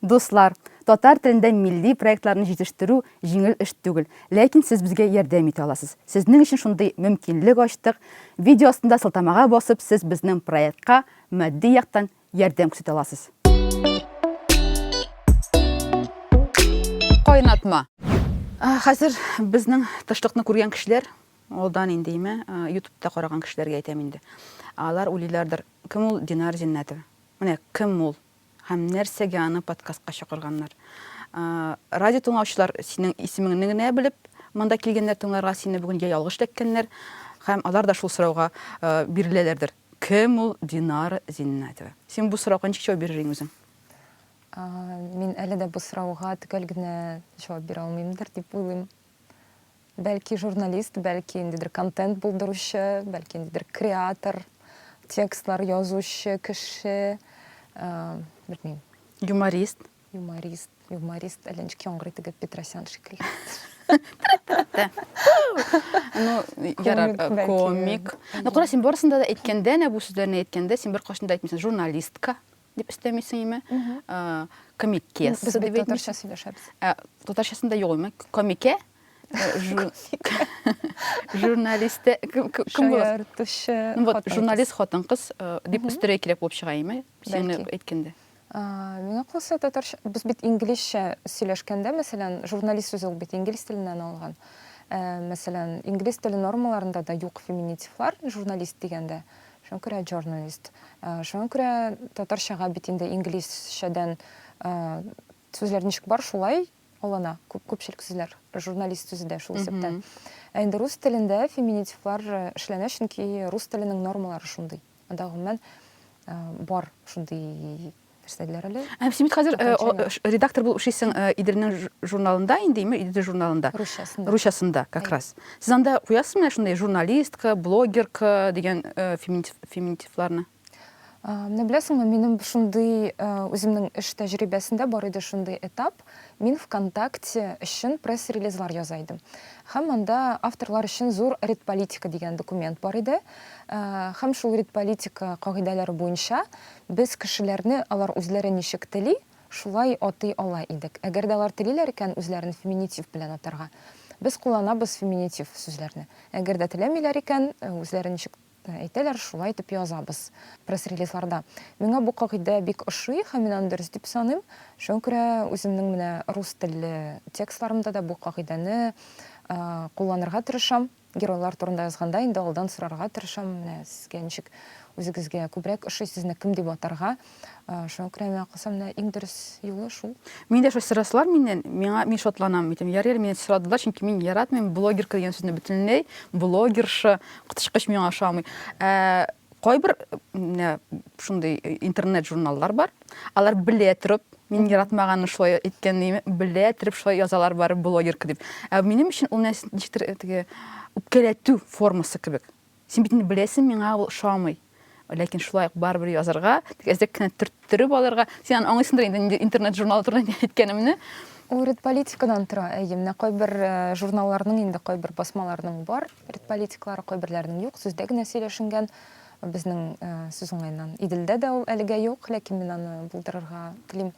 Дуслар, татар телендә милли проектларны җитештерү җиңел эш түгел, ләкин сез безгә ярдәм итә аласыз. Сезнең өчен шундый мөмкинлек ачтык, видео астында сылтамага басып, сез безнең проектка матди яктан ярдәм күрсәтә аласыз. Кайнатма. Хәзер безнең тышлыкны күргән кешеләр, алдан инде име, ютубта караган кешеләргә әйтәм инде. Алар уйлыйлардыр, кем ул Динар Зиннәтова? Менә кем ул? Һәм нәрсәгә аны подкастка чакырганнар? Радио тыңлаучылар синең исемеңне генә белеп, монда килгәннәр тыңларга сине бүген я ялгыш эләккәннәр, һәм алар да шул сорауга биреләләрдер. Кем ул Динара Зиннәтова? Син бу сорауга ничек җавап бирер идең үзең? Мин әле дә бу сорауга төгәл генә җавап бирә алмыймдыр дип уйлыйм. Бәлки журналист, бәлки ниндидер контент булдыручы, бәлки ниндидер креатор, текстлар язучы кеше, ә, белмим. Юморист. Юморист, юморист, әллә ничек яңгырый теге Петросян шикелле. Ну, ярар, комик. Ну, кара, син барысында да әйткәндә, нә бу сүзләрне әйткәндә, син бер кашында әйтмисең, журналистка. дип өстәмисең име? Э, комикес. Без бит татарча сөйләшәбез. Э, татарчасында юк име? Комике? Э, журналисты кем буласың? Ну вот, журналист хатын кыз дип өстерәй кирәк булып чыга име? Син әйткәндә. Миңа калса татарча, без бит инглизчә сөйләшкәндә, мәсәлән, журналист сүзе ул бит инглиз теленнән алган. Мәсәлән, инглиз теле нормаларында да юк феминитивлар, журналист дигәндә. Шуңа күрә җорналист. Шуңа күрә татарчага бит инде инглизчәдән сүзләр ничек бар, шулай алына. Күп күпчелек сүзләр журналист сүзе дә шул исәптән. Ә инде рус телендә феминитивлар эшләнә, чөнки рус теленең нормалары шундый. Анда гомумән бар шундый Нәрсәләр әле? Ә син бит хәзер редактор булып эшлисең Иделнең журналында инде, Идел журналында. Русчасында. Русчасында, как раз. Сез анда куясыз менә шундый журналистка, блогерка дигән феминитивларны? Менә беләсеңме, минем шундый үземнең эш тәҗрибәсендә бар иде шундый этап. Мин ВКонтакте өчен пресс-релизлар яза идем. Һәм монда авторлар өчен зур редполитика дигән документ бар иде. Һәм шул редполитика кагыйдәләре буенча Без кешеләрне алар үзләре ничек тели, шулай атый ала идек. Әгәр дә алар телиләр икән үзләрен феминитив белән атарга, без кулланабыз феминитив сүзләрне. Әгәр дә теләмиләр икән, үзләре ничек әйтәләр, шулай итеп язабыз пресс-релизларда. Миңа бу кагыйдә бик ошый һәм мин аны дөрес дип саныйм. Шуңа күрә үземнең менә рус телле текстларымда да бу кагыйдәне кулланырга тырышам. Геройлар турында язганда инде алдан сорарга тырышам, менә сезгә ничек, үзегезгә күбрәк ошый, сезне кем дип атарга. Шуңа күрә миңа калса, менә иң дөрес юлы шул. Мин дә шулай сорасалар миннән, миңа, мин шатланам, әйтәм, ярый әле миннән сорадылар, чөнки мин яратмыйм блогерка дигән сүзне бөтенләй, блогерша, коточкыч миңа ошамый. Ә Кайбер менә шундый интернет журналлар бар. Алар белә торып, мин яратмаганны шулай әйткән диме, белә торып шулай язалар бары блогерка дип. Ә минем өчен ул нәрсә ничектер теге үпкәләтү формасы кебек. Син бит инде беләсең, миңа ул ошамый. Ләкин шулай ук барыбер язарга, тик әзрәк кенә төрттереп алырга. Син аңлыйсыңдыр инде интернет журналы турында әйткәнемне. Урыт политикадан тора, әйе, менә кайбер э, журналларның инде кайбер басмаларның бар. Рт политиклары кайберләренең юк, сүздә генә сөйләшенгән. Безнең сүз уңаеннан Иделдә дә ул әлегә юк, ләкин мин аны булдырырга телим.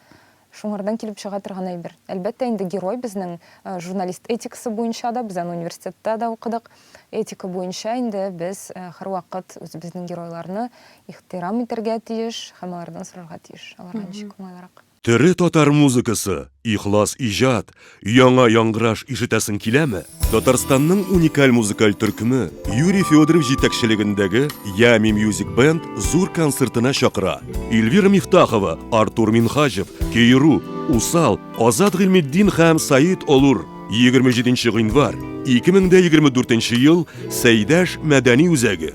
Шуңардан килеп чыга торган әйбер. Әлбәттә инде герой безнең журналист этикасы буенча да, без аны университетта да укыдык, этика буенча инде без һәрвакыт үзебезнең геройларны ихтирам итәргә тиеш һәм алардан сорарга тиеш, аларга ничек уңайлырак. Тере татар музыкасы, ихлас иҗат, яңа яңгыраш ишетәсең киләме? Татарстанның уникаль музыкаль төркеме Юрий Федоров җитәкчелегендәге Ями Music Band зур концертына чакыра. Эльвира Мифтахова, Артур Минхаҗев, Кееру, Усал, Азат Гыйльметдин һәм Саид Олур, 27 нче гыйнвар, 2024 ел, Сәйдәш мәдәни үзәге.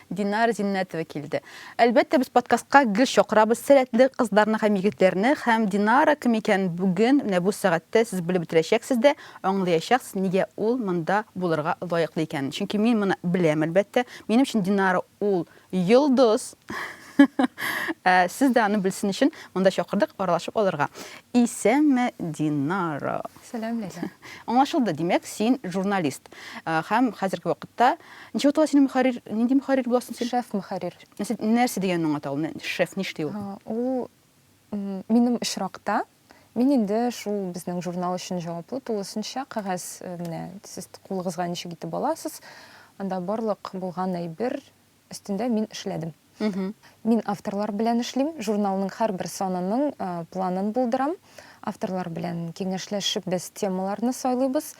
Динар Зиннәтова килде. Әлбәттә, без подкастка гел чакырабыз сәләтле кызларны һәм егетләрне, һәм Динара кем икәнен бүген, менә бу сәгатьтә сез белеп бетерәчәксез дә, аңлыячаксыз, нигә ул монда булырга лаеклы икәнен. Чөнки мин моны беләм, әлбәттә. Минем өчен Динара ул, йолдыз! Ә сез дә аны белсен өчен монда чакырдык, аралашып алырга. Исәнме, Динара! Сәлам, Ләйлә. Аңлашылды, димәк, син журналист. Һәм хәзерге вакытта, ничек атала синең мөхәррир, нинди мөхәррир буласың син? Шеф мөхәррир. Нәрсә дигәнне аңлата ул, шеф, ни эшли ул? Ул, минем очракта, мин инде шул безнең журнал өчен җаваплы тулысынча, кәгазь, менә сез кулыгызга ничек итеп аласыз, анда барлык булган әйбер, өстендә мин эшләдем. Мин авторлар белән эшлим, журналның һәрбер санының планын булдырам. Авторлар белән киңәшләшеп без темаларны сайлыйбыз,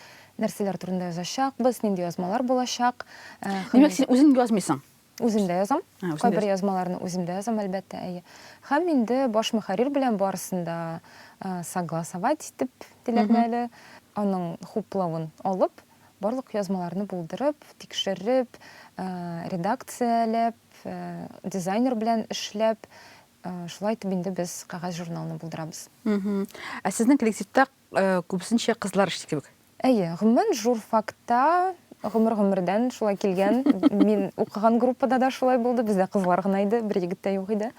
нәрсәләр турында язачакбыз, нинди язмалар булачак. Димәк, син үзең язмыйсың? Үзем дә язам. Кайбер язмаларны үзем дә язам, әлбәттә, әйе. Һәм инде баш мөхәррир белән барысын да согласовать итеп, диләрме әле, аның хуплавын алып, Барлык язмаларны булдырып, тикшереп, редакцияләп, дизайнер белән эшләп, шулай итеп инде без кәгазь журналны булдырабыз. Ә сезнең коллективта күбесенчә кызлар эшли кебек? Әйе, гомумән журфакта гомер-гомердән шулай килгән. Мин укыган группада да шулай булды, бездә кызлар гына иде, бер егет тә юк иде.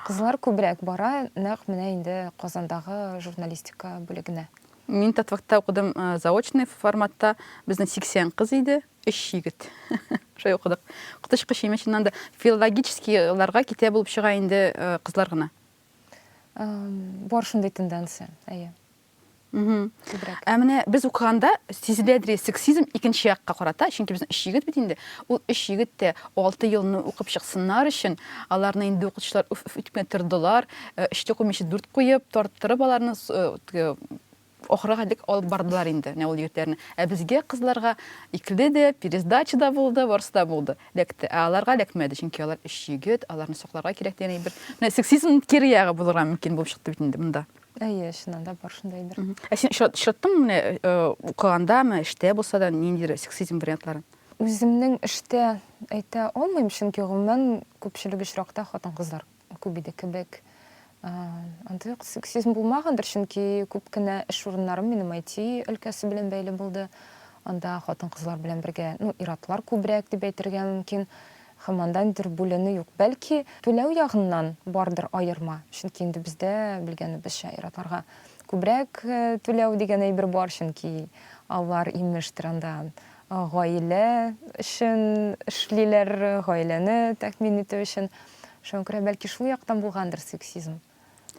Кызлар күбрәк бара, нәкъ менә инде Казандагы журналистика бүлегенә. Мин Татвактта укыдым, заочный форматта. Безнең 80 кыз иде, 3 егет. Шулай укыдык. Коточкы чәймә чыннан да филологическийларга китә булып чыга инде кызлар гына. Бар шундый тенденция, әйе. Ә менә без укыганда сизелә дирәк сексизм икенче якка карата, чөнки безнең өч егет бит инде. Ул өч егет тә алты елны укып чыксыннар өчен, аларны инде укытучылар үф-үф итеп кенә тордылар. Э, өчтә куймыйча дүрт куеп тарттырып аларны э, ахырга дик алып бардылар инде менә ул егетләрне ә безгә кызларга икле дә пересдача да булды барысы да булды ләкте ә аларга ләкмәде чөнки алар өч егет аларны сакларга кирәк дигән бер менә сексизм кире ягы булырга мөмкин булып чыкты бит инде монда әйе чыннан да бар шундай бер ә син очраттыңмы менә э, укыганда ме эштә булса да ниндидер сексизм вариантларын үземнең эштә әйтә алмыйм чөнки гомумән күпчелек очракта хатын кызлар күп иде кебек. Андый ук сексизм булмагандыр, чөнки күп кенә эш урыннарым минем IT өлкәсе белән бәйле булды. Анда хатын-кызлар белән бергә, ну, ир-атлар күбрәк дип әйтергә мөмкин. Һәм анда ниндидер бүленү юк. Бәлки, түләү ягыннан бардыр аерма, чөнки инде бездә, белгәнебезчә, ир-атларга күбрәк түләү дигән әйбер бар, чөнки алар, имештер, анда гаилә өчен эшлиләр, гаиләне тәэмин итү өчен. Шуңа күрә бәлки шул яктан булгандыр сексизм.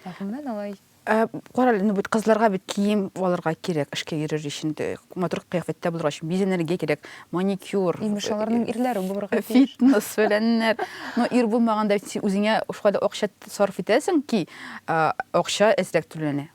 Ә гомумән алай Э, кара әле, ну бит кызларга бит кием алырга кирәк, эшкә йөрер өчен, матур кыяфәттә булырга өчен, бизәнергә кирәк, маникюр. Имеш, аларның э, ирләре булырга тиеш. Фитнес фәләннәр. Но ир булмаганда син үзеңә шулай да акча сарыф итәсең ки, акча әзрәк түләнә.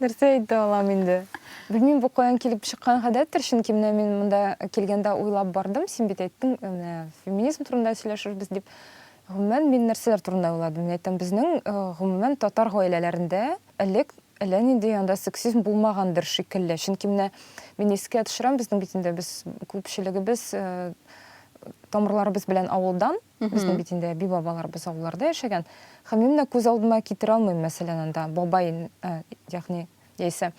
Нәрсә әйтә алам инде? Белмим, бу каян килеп чыккан гадәттер, чөнки менә мин монда килгәндә уйлап бардым, син бит әйттең, менә феминизм турында сөйләшербез дип. Гомумән, мин нәрсәләр турында уйладым? Мин әйтәм, безнең э, гомумән татар гаиләләрендә элек әллә нинди анда сексизм булмагандыр шикелле. Чөнки менә мин искә төшерәм, безнең бит инде без күпчелегебез э, тамырларыбыз белән авылдан, Безнең бит инде әби-бабаларыбыз авылларда яшәгән. Һәм мин менә күз алдыма китерә алмыйм, мәсәлән, анда бабай, ә, ягъни, яисә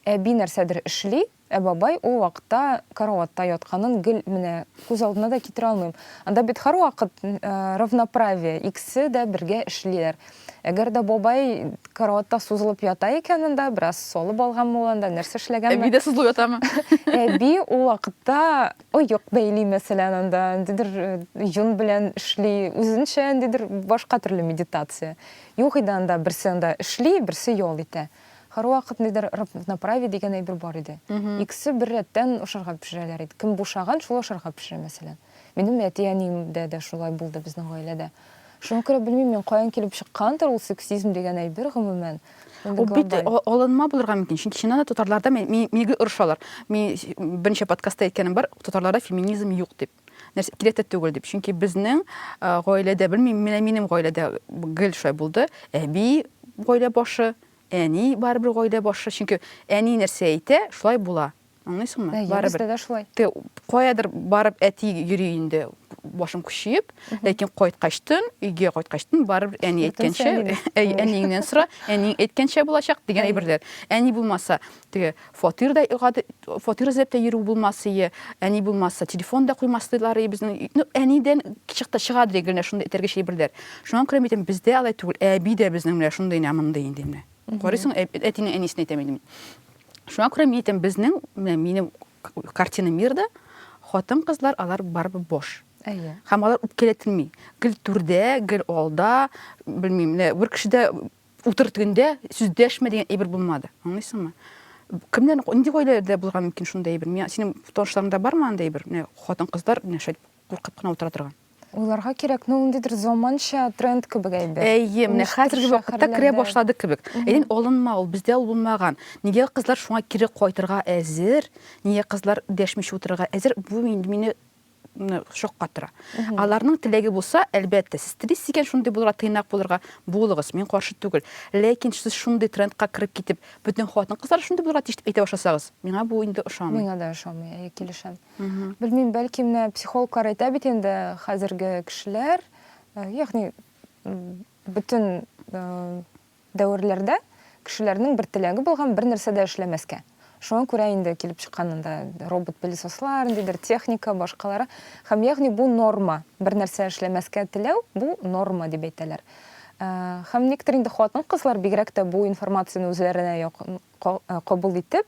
әби нәрсәдер эшли, ә бабай ул вакытта караватта ятканын гел менә күз алдына да китерә алмыйм. Анда бит һәрвакыт э, равноправие, икесе дә бергә эшлиләр. Әгәр дә бабай караватта сузылып ята икән анда, бераз салып алганмы ул анда, нәрсә эшләгәнме? Әби дә сузылып ятамы? Әби ул вакытта Оек бәйли, мәсәлән, анда ниндидер йон белән эшли, үзенчә ниндидер башка төрле медитация. Юк иде анда, берсе анда эшли, берсе ял итә. Һәрвакыт ниндидер равноправие дигән әйбер бар иде. Икесе бер рәттән ашарга пешерәләр иде. Кем бушаган, шул ашарга пешерә, мәсәлән. Минем әти-әниемдә дә шулай булды, безнең гаиләдә. Шуңа күрә белмим мин, каян килеп чыккандыр ул сексизм дигән әйбер, гомумән. Ул бит алынма булырга мөмкин, чөнки чыннан да татарларда мине гел орышалар. Мин берничә подкастта әйткәнем бар, татарларда феминизм юк дип. Нәрсә кирәк тә түгел дип. Чөнки безнең гаиләдә, белмим, менә минем гаиләдә гел шулай булды. Әби гаилә башы, әни барыбер гаилә башы, чөнки әни нәрсә әйтә, шулай була. Аңлыйсыңмы? Барыбер. Дә шулай. Ты каядыр барып әти йөри инде башын күчиеп, ләкин кайткач тын, өйгә кайткач тын барыбер әни әйткәнчә, әниеңнән сора, әниң әйткәнчә булачак дигән әйберләр. Әни булмаса, теге фатирда фатир эзләп тә йөрү булмас ие, әни булмаса, телефон да куймас диләр безнең. Ну, әнидән чыкта чыга дигән шундый этәргеч әйберләр. Шуңа күрә митем, бездә алай түгел, әби дә безнең менә шундый нә мондый инде менә. Карыйсың, ә- әтине, әнисен әйтәм инде мин. Шуңа күрә мин әйтәм, безнең, менә минем к- картина мирда хатын-кызлар алар барыбер бош. Әйе. Һәм алар үпкәләтелми. Гел түрдә, гел алда, белмим, менә бер кешедә утыр тегендә, сүз дәшмә дигән әйбер булмады. Аңлыйсыңмы? Кемнәр, нинди гаиләдә булырга мөмкин шундый әйбер? Миңа синең танышларыңда бармы андый әйбер? Менә хатын-кызлар менә шәт Куркып кына утыра торган. Уйларга кирәк, ну, ниндидер заманча тренд кебек әйбер. Әйе, менә хәзерге вакытта керә башлады кебек. Әйдин алынма ул, бездә ул булмаган. Нигә кызлар шуңа кире кайтырга әзер? Нигә кызлар дәшмичә утырырга әзер? Бу мине шаккатыра. Аларның теләге булса, әлбәттә, сез телисез икән шундый булырга, тыйнак булырга, булыгыз, мин каршы түгел. Ләкин сез шундый трендка кереп китеп, бөтен хатын-кызлар шундый булырга тиеш дип әйтә башласагыз, миңа бу инде ошамый. Миңа да ошамый, әйе, килешәм. Белмим, бәлки менә психологлар әйтә бит инде, хәзерге кешеләр, э, ягъни бөтен э, дәверләрдә кешеләрнең бер теләге булган бер нәрсә дә эшләмәскә. Шуңа күрә инде килеп чыккан анда робот-пылесослар, ниндидер техника, башкалары. Һәм ягъни бу норма. Бер нәрсә эшләмәскә теләү бу норма дип әйтәләр. Э, һәм некоторые инде хатын-кызлар бигрәк тә бу информацияне үзләренә Кабул итеп,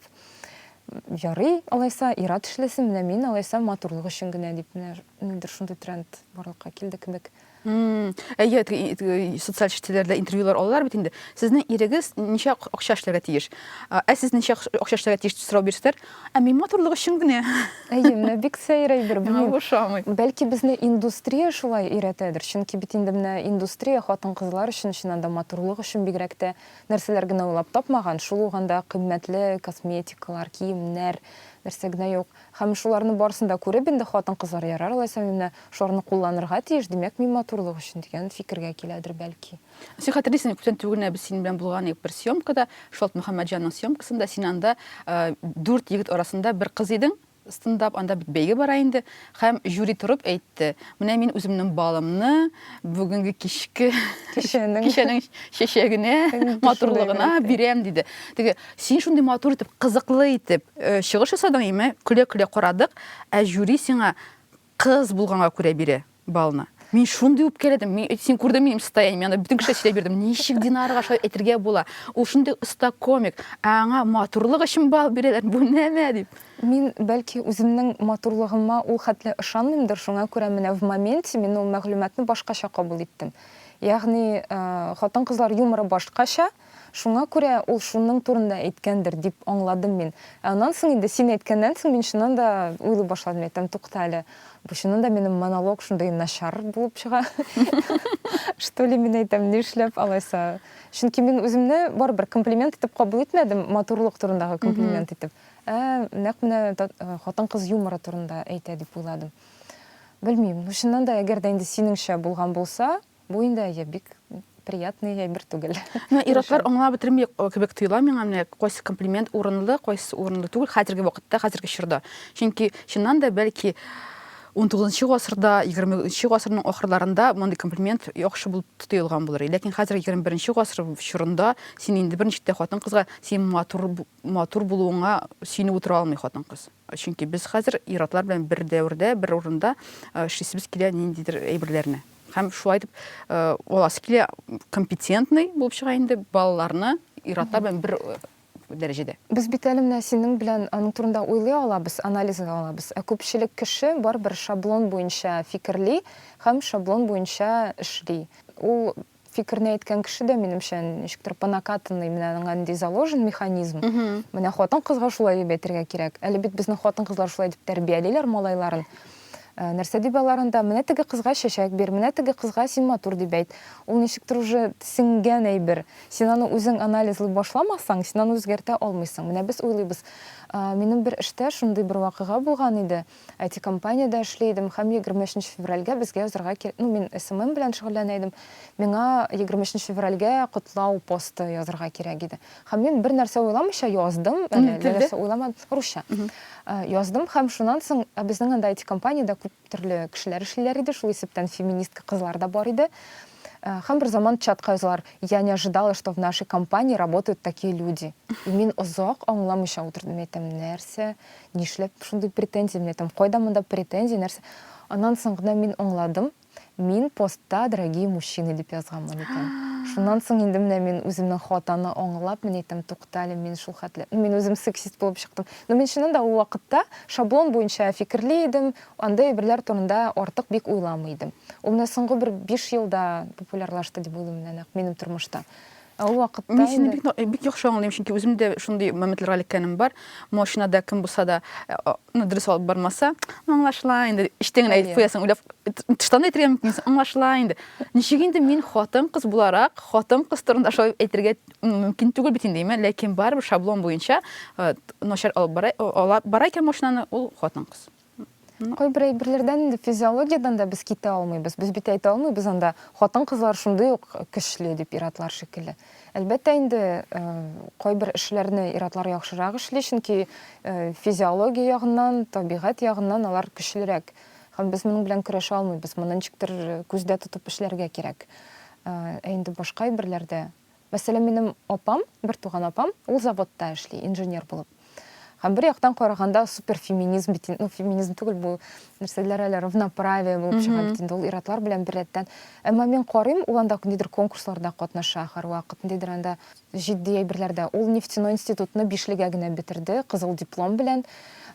ярый, алайса, ир-ат эшләсен, менә мин, алайса, матурлык өчен генә, дип, менә нидер шундый тренд барлыкка килде кебек. Әйе, социаль челтәрләрдә интервьюлар алалар бит инде. Сезнең ирегез ничә акча эшләргә тиеш? Ә сез ничә акча эшләргә тиеш дип сорау бирсәләр, ә мин матурлык өчен генә. Әйе, менә бик сәер әйбер, белмим. Ошамый. Бәлки безне индустрия шулай өйрәтәдер, чөнки бит инде менә индустрия хатын-кызлар өчен чыннан да матурлык өчен бигрәк тә. Нәрсәләр генә уйлап тапмаган, шул ук анда кыйммәтле косметикалар, киемнәр, нәрсә генә юк. Һәм шуларны барысын да күреп, инде хатын-кызлар, ярар алайса мин менә шуларны кулланырга тиеш, димәк, мин матурлык өчен, дигән фикергә киләдер, бәлки. Син хәтерлисеңме, күптән түгел генә без синең белән булган идек бер съемкада, Шолт Мөхәммәтҗанның съемкасында, син анда дүрт егет арасында бер кыз идең, Стендап, анда бит бәйге бара инде. Һәм жюри торып әйтте, менә мин үземнең балымны бүгенге кичке Кичәнең. кичәнең чәчәгенә, Кичәнең. матурлыгына бирәм, диде. Теге, син шундый матур итеп, кызыклы итеп э, чыгыш ясадың, имә, көлә-көлә карадык, ә жюри сиңа Кыз булганга күрә бирә балны. Мин шундый үпкәләдем. Мин син күрдең минем состояние, анда бөтен кеше сөйләп бирдем. Ничек Динарга шулай әйтергә була? Ул шундый оста комик, ә аңа матурлык өчен бал бирәләр. Бу нәмә дип. Мин, бәлки, үземнең матурлыгыма ул хәтле ышанмыймдыр, шуңа күрә менә в моменте мин ул мәгълүматны башкача кабул иттем. Ягъни, хатын-кызлар юморы башкача. Шуңа күрә ул шуның турында әйткәндер, дип аңладым мин. Ә аннан соң инде, син әйткәннән соң, мин чыннан да уйлый башладым, әйтәм, тукта әле, бу чыннан да минем монолог шундый начар булып чыга, что ли, мин әйтәм, нишләп алайса? Чөнки мин үземне барыбер комплимент итеп кабул итмәдем, матурлык турындагы комплимент итеп, ә нәкъ менә хатын-кыз юморы турында әйтә дип уйладым. Белмим, ну чыннан да, әгәр дә инде синеңчә булган булса, Бу инде әйе, бик приятный әйбер түгел. Менә ир-атлар аңлап бетерми кебек тоела миңа, менә кайсы комплимент урынлы, кайсы урынлы түгел хәзерге вакытта, хәзерге чорда. Чөнки чыннан да бәлки 19 гасырда, 20 гасырның ахырларында мондый комплимент яхшы булып тоелган булыр. Ләкин хәзер 21 гасыр чорында син инде берничек тә хатын-кызга син матур матур булуыңа сөенеп утыра алмый хатын-кыз. Чөнки без хәзер ир-атлар белән бер дәвердә, бер урында эшлисебез килә ниндидер әйберләрне. Һәм шулай итеп аласы килә компетентный булып чыга инде балаларны ир-атлар белән бер дәрәҗәдә. Без бит әле менә синең белән аның турында уйлый алабыз, анализлый алабыз, ә күпчелек кеше барыбер шаблон буенча фикерли һәм шаблон буенча эшли. Ул Фикерне әйткән кеше дә, минемчә, ничектер по накатанной, менә аның андый заложен механизм. Менә хатын-кызга шулай дип әйтергә кирәк. Әле бит безнең хатын-кызлар шулай дип тәрбиялиләр малайларын. Э, нәрсә дип аларын да, менә теге кызга чәчәк бир, менә теге кызга син матур дип әйт. Ул ничектер уже сеңгән әйбер. Син аны үзең анализлый башламасаң, син аны үзгәртә алмыйсың. Менә без уйлыйбыз. Э, минем бер эштә шундый бер вакыйга булган иде. IT-компаниядә эшли идем һәм егерме өченче февральгә безгә язарга кирәк, ну, мин SMM белән шөгыльләнә идем, миңа егерме өченче февральгә котлау посты язарга кирәк иде. Һәм мин бер нәрсә уйламыйча яздым, әле әллә нәрсә уйламадым, русча. Яздым һәм шуннан соң, ә безнең анда IT-компаниядә күп төрле кешеләр эшлиләр иде, шул исәптән феминистка кызлар да бар иде. Һәм бер заман чатка язалар, я не ожидала, что в нашей компании работают такие люди. И мин озак аңламыйча утырдым, әйтәм, нәрсә, Нишләп шундый претензия менә там, кайда монда претензия, нәрсә? Аннан соң гына мин аңладым, мин постта дорогие мужчины дип язганмын икән. Шуннан соң инде менә мин үземнең хатаны аңлап, мин әйтәм, туктале, мин шул хәтле, ну мин үзем сексист булып чыктым. Ну мин чыннан да ул вакытта шаблон буенча фикерли идем, андый әйберләр турында артык бик уйламый идем. Ул менә соңгы бер биш елда популярлашты дип уйлыйм менә нәкъ минем тормышта. Ә ул вакытта Мин сине бик, бик яхшы аңлыйм, чөнки үзем дә шундый моментларга эләккәнем бар. Машинада кем булса да, э, ну, дөрес алып бармаса, ну, аңлашыла инде, эчтән генә әйтеп куясың, уйлап, тыштан да әйтергә мөмкинсең, аңлашыла инде. Ничек инде мин хатын-кыз буларак, хатын-кыз турында шулай әйтергә мөмкин түгел бит инде, әмма ләкин барыбер шаблон буенча э, начар алып бара, ала бара икән машинаны, ул хатын-кыз. Кайбер әйберләрдән инде физиологиядән дә без китә алмыйбыз. Без бит әйтә алмыйбыз анда хатын-кызлар шундый ук көчле дип иратлар шикелле. Әлбәттә инде э, кайбер эшләрне иратлар яхшырак эшли, чөнки э, физиология ягыннан, табигать ягыннан алар көчлерәк. Һәм без моның белән көрәшә алмыйбыз. Моны ничектер күздә тотып эшләргә кирәк. Э, ә инде башка әйберләрдә Мәсәлән, минем апам, бертуган апам, ул заводта эшли, инженер булып. Һәм бер яктан караганда супер феминизм бит инде, ну феминизм түгел бу, нәрсәләр әле равноправие булып чыга бит инде, ул ир-атлар белән беррәттән. Әмма мин карыйм, ул анда ниндидер конкурсларда катнаша һәрвакыт, ниндидер анда җитди әйберләрдә. Ул нефтяной институтны бишлегә генә бетерде, кызыл диплом белән.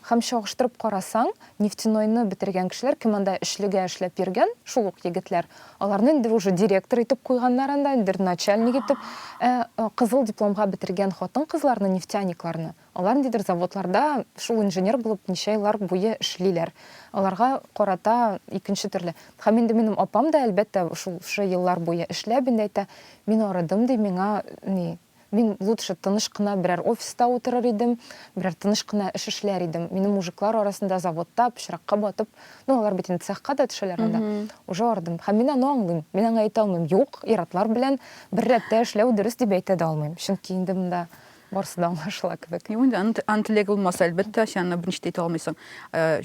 Һәм чагыштырып карасаң, Нефтяной-ны бетергән кешеләр, кем анда эшлегә эшләп йөргән, шул ук егетләр. Аларны инде уже директор итеп куйганнар анда, бер начальник итеп. Ә кызыл дипломга бетергән хатын-кызларны, нефтяникларны, алар ниндидер заводларда шул инженер булып ничә еллар буе эшлиләр. Аларга карата икенче төрле. Һәм инде минем апам да, әлбәттә, шул шы еллар буе эшләп инде әйтә, мин арыдым, ди, миңа ни, Мин лутше тыныч кына берәр офиста утырыр идем, берәр тыныч кына эш эшләр идем. Минем мужиклар арасында заводта, пычракка батып, ну, алар бит инде цехка да төшәләр анда, уже ардым. Һәм мин аны аңлыйм. Мин аңа әйтә алмыйм, юк, ир-атлар белән бер рәттә эшләү дөрес дип әйтә дә алмыйм. Чөнки инде монда барысы да аңлашыла кебек. Юк инде, аны, аны теләге булмаса, әлбәттә, син аны берничә дә әйтә алмыйсың.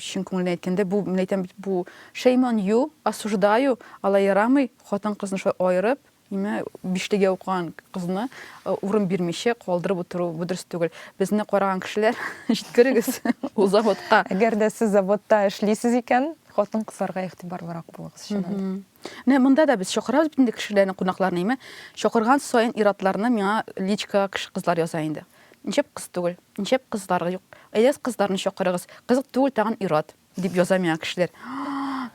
Чын күңелдән әйткәндә, бу, мин әйтәм бит, бу, shame on you, осуждаю, алай ярамый, хатын-кызны шулай аерып, Әмма бишлегә укыган кызны урын бирмичә калдырып утыру бу дөрес түгел. Безне караган кешеләр җиткерегез ул заводка. Әгәр дә сез заводта эшлисез икән, хатын кызларга игътибарлырак булыгыз чыннан. Менә монда да без чакырабыз бит инде кешеләрне, кунакларны, әмма чакырган саен иратларны миңа личка кеше кызлар яза инде. Ничек кыз түгел, ничек кызлар юк. Әйдәгез кызларны чакырыгыз. Кызык түгел тагын ират. Дип яза миңа кешеләр.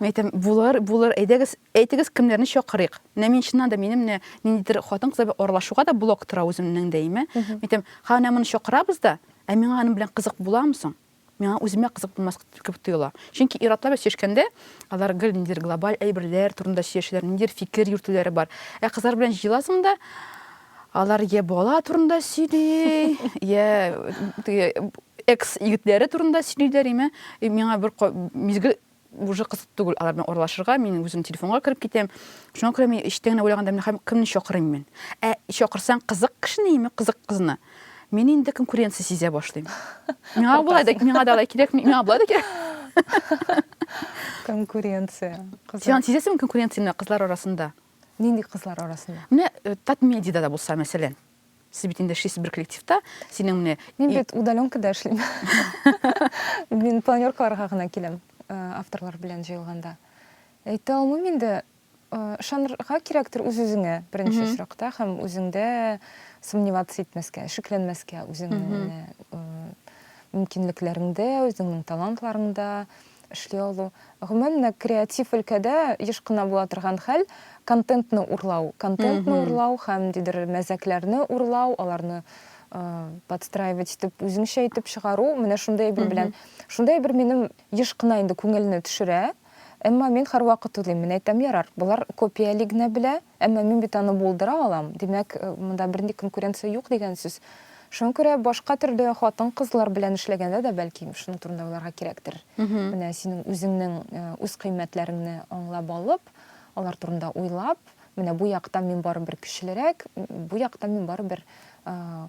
Мин әйтәм, булыр, булыр, әйдәгез, әйтегез, кемнәрне чакырыйк. Менә мин чыннан да минем менә ниндидер хатын-кызлар белән аралашуга да блок тора үземнең дә име. Мин әйтәм, ха, менә моны чакырабыз да, ә миңа аның белән кызык буламы соң? Миңа үземә кызык булмас кебек тоела. Чөнки ир-атлар белән сөйләшкәндә, алар гел ниндидер глобаль әйберләр турында сөйләшәләр, ниндидер фикер йөртүләре бар. Ә кызлар белән җыеласың да, Алар йә бала турында сөйли, йә теге экс егетләре турында сөйлиләр име. И миңа бер мизгел уже кызык түгел алар белән аралашырга. Мин үзем телефонга кереп китәм. Шуңа күрә мин эчтән генә уйлаганда мин хәм кемне чакырыйм мин? Ә чакырсаң кызык кешене яме кызык кызны? Мин инде конкуренция сизә башлыйм. Миңа болай да миңа да алай кирәк, миңа болай да кирәк. Конкуренция. Син сизәсеңме конкуренцияне кызлар арасында? Нинди кызлар арасында? Менә э, Татмедида да булса, мәсәлән. Сез бит инде эшлисез бер коллективта, синең менә... Мин бит удаленкада эшлим. Мин планеркаларга гына киләм, э, авторлар белән җыелганда. Әйтә алмыйм инде, ышанырга э, кирәктер үз-үзеңә беренче очракта һәм үзеңдә сомневаться итмәскә, шикләнмәскә үзеңнең мөмкинлекләреңдә, үзеңнең талантларыңда. эшли алу. Гомумән дә, креатив өлкәдә еш кына була торган хәл, контентны урлау. Контентны урлау һәм ниндидер мәзәкләрне урлау, аларны подстраивать итеп, үзеңчә итеп чыгару, менә шундый әйбер белән. Шундый әйбер минем еш кына инде күңелне төшерә. Әмма мин һәрвакыт уйлыйм, мин әйтәм, ярар, болар копияли генә белә, Әмма мин бит аны булдыра алам, димәк, монда бернинди конкуренция юк дигән сүз. Шуңа күрә башка төрле хатын-кызлар белән эшләгәндә дә, бәлки, шуның турында уйларга кирәктер. Менә синең үзеңнең үз кыйммәтләреңне аңлап алып, алар турында уйлап, менә бу якта мин барыбер көчлерәк, бу якта мин барыбер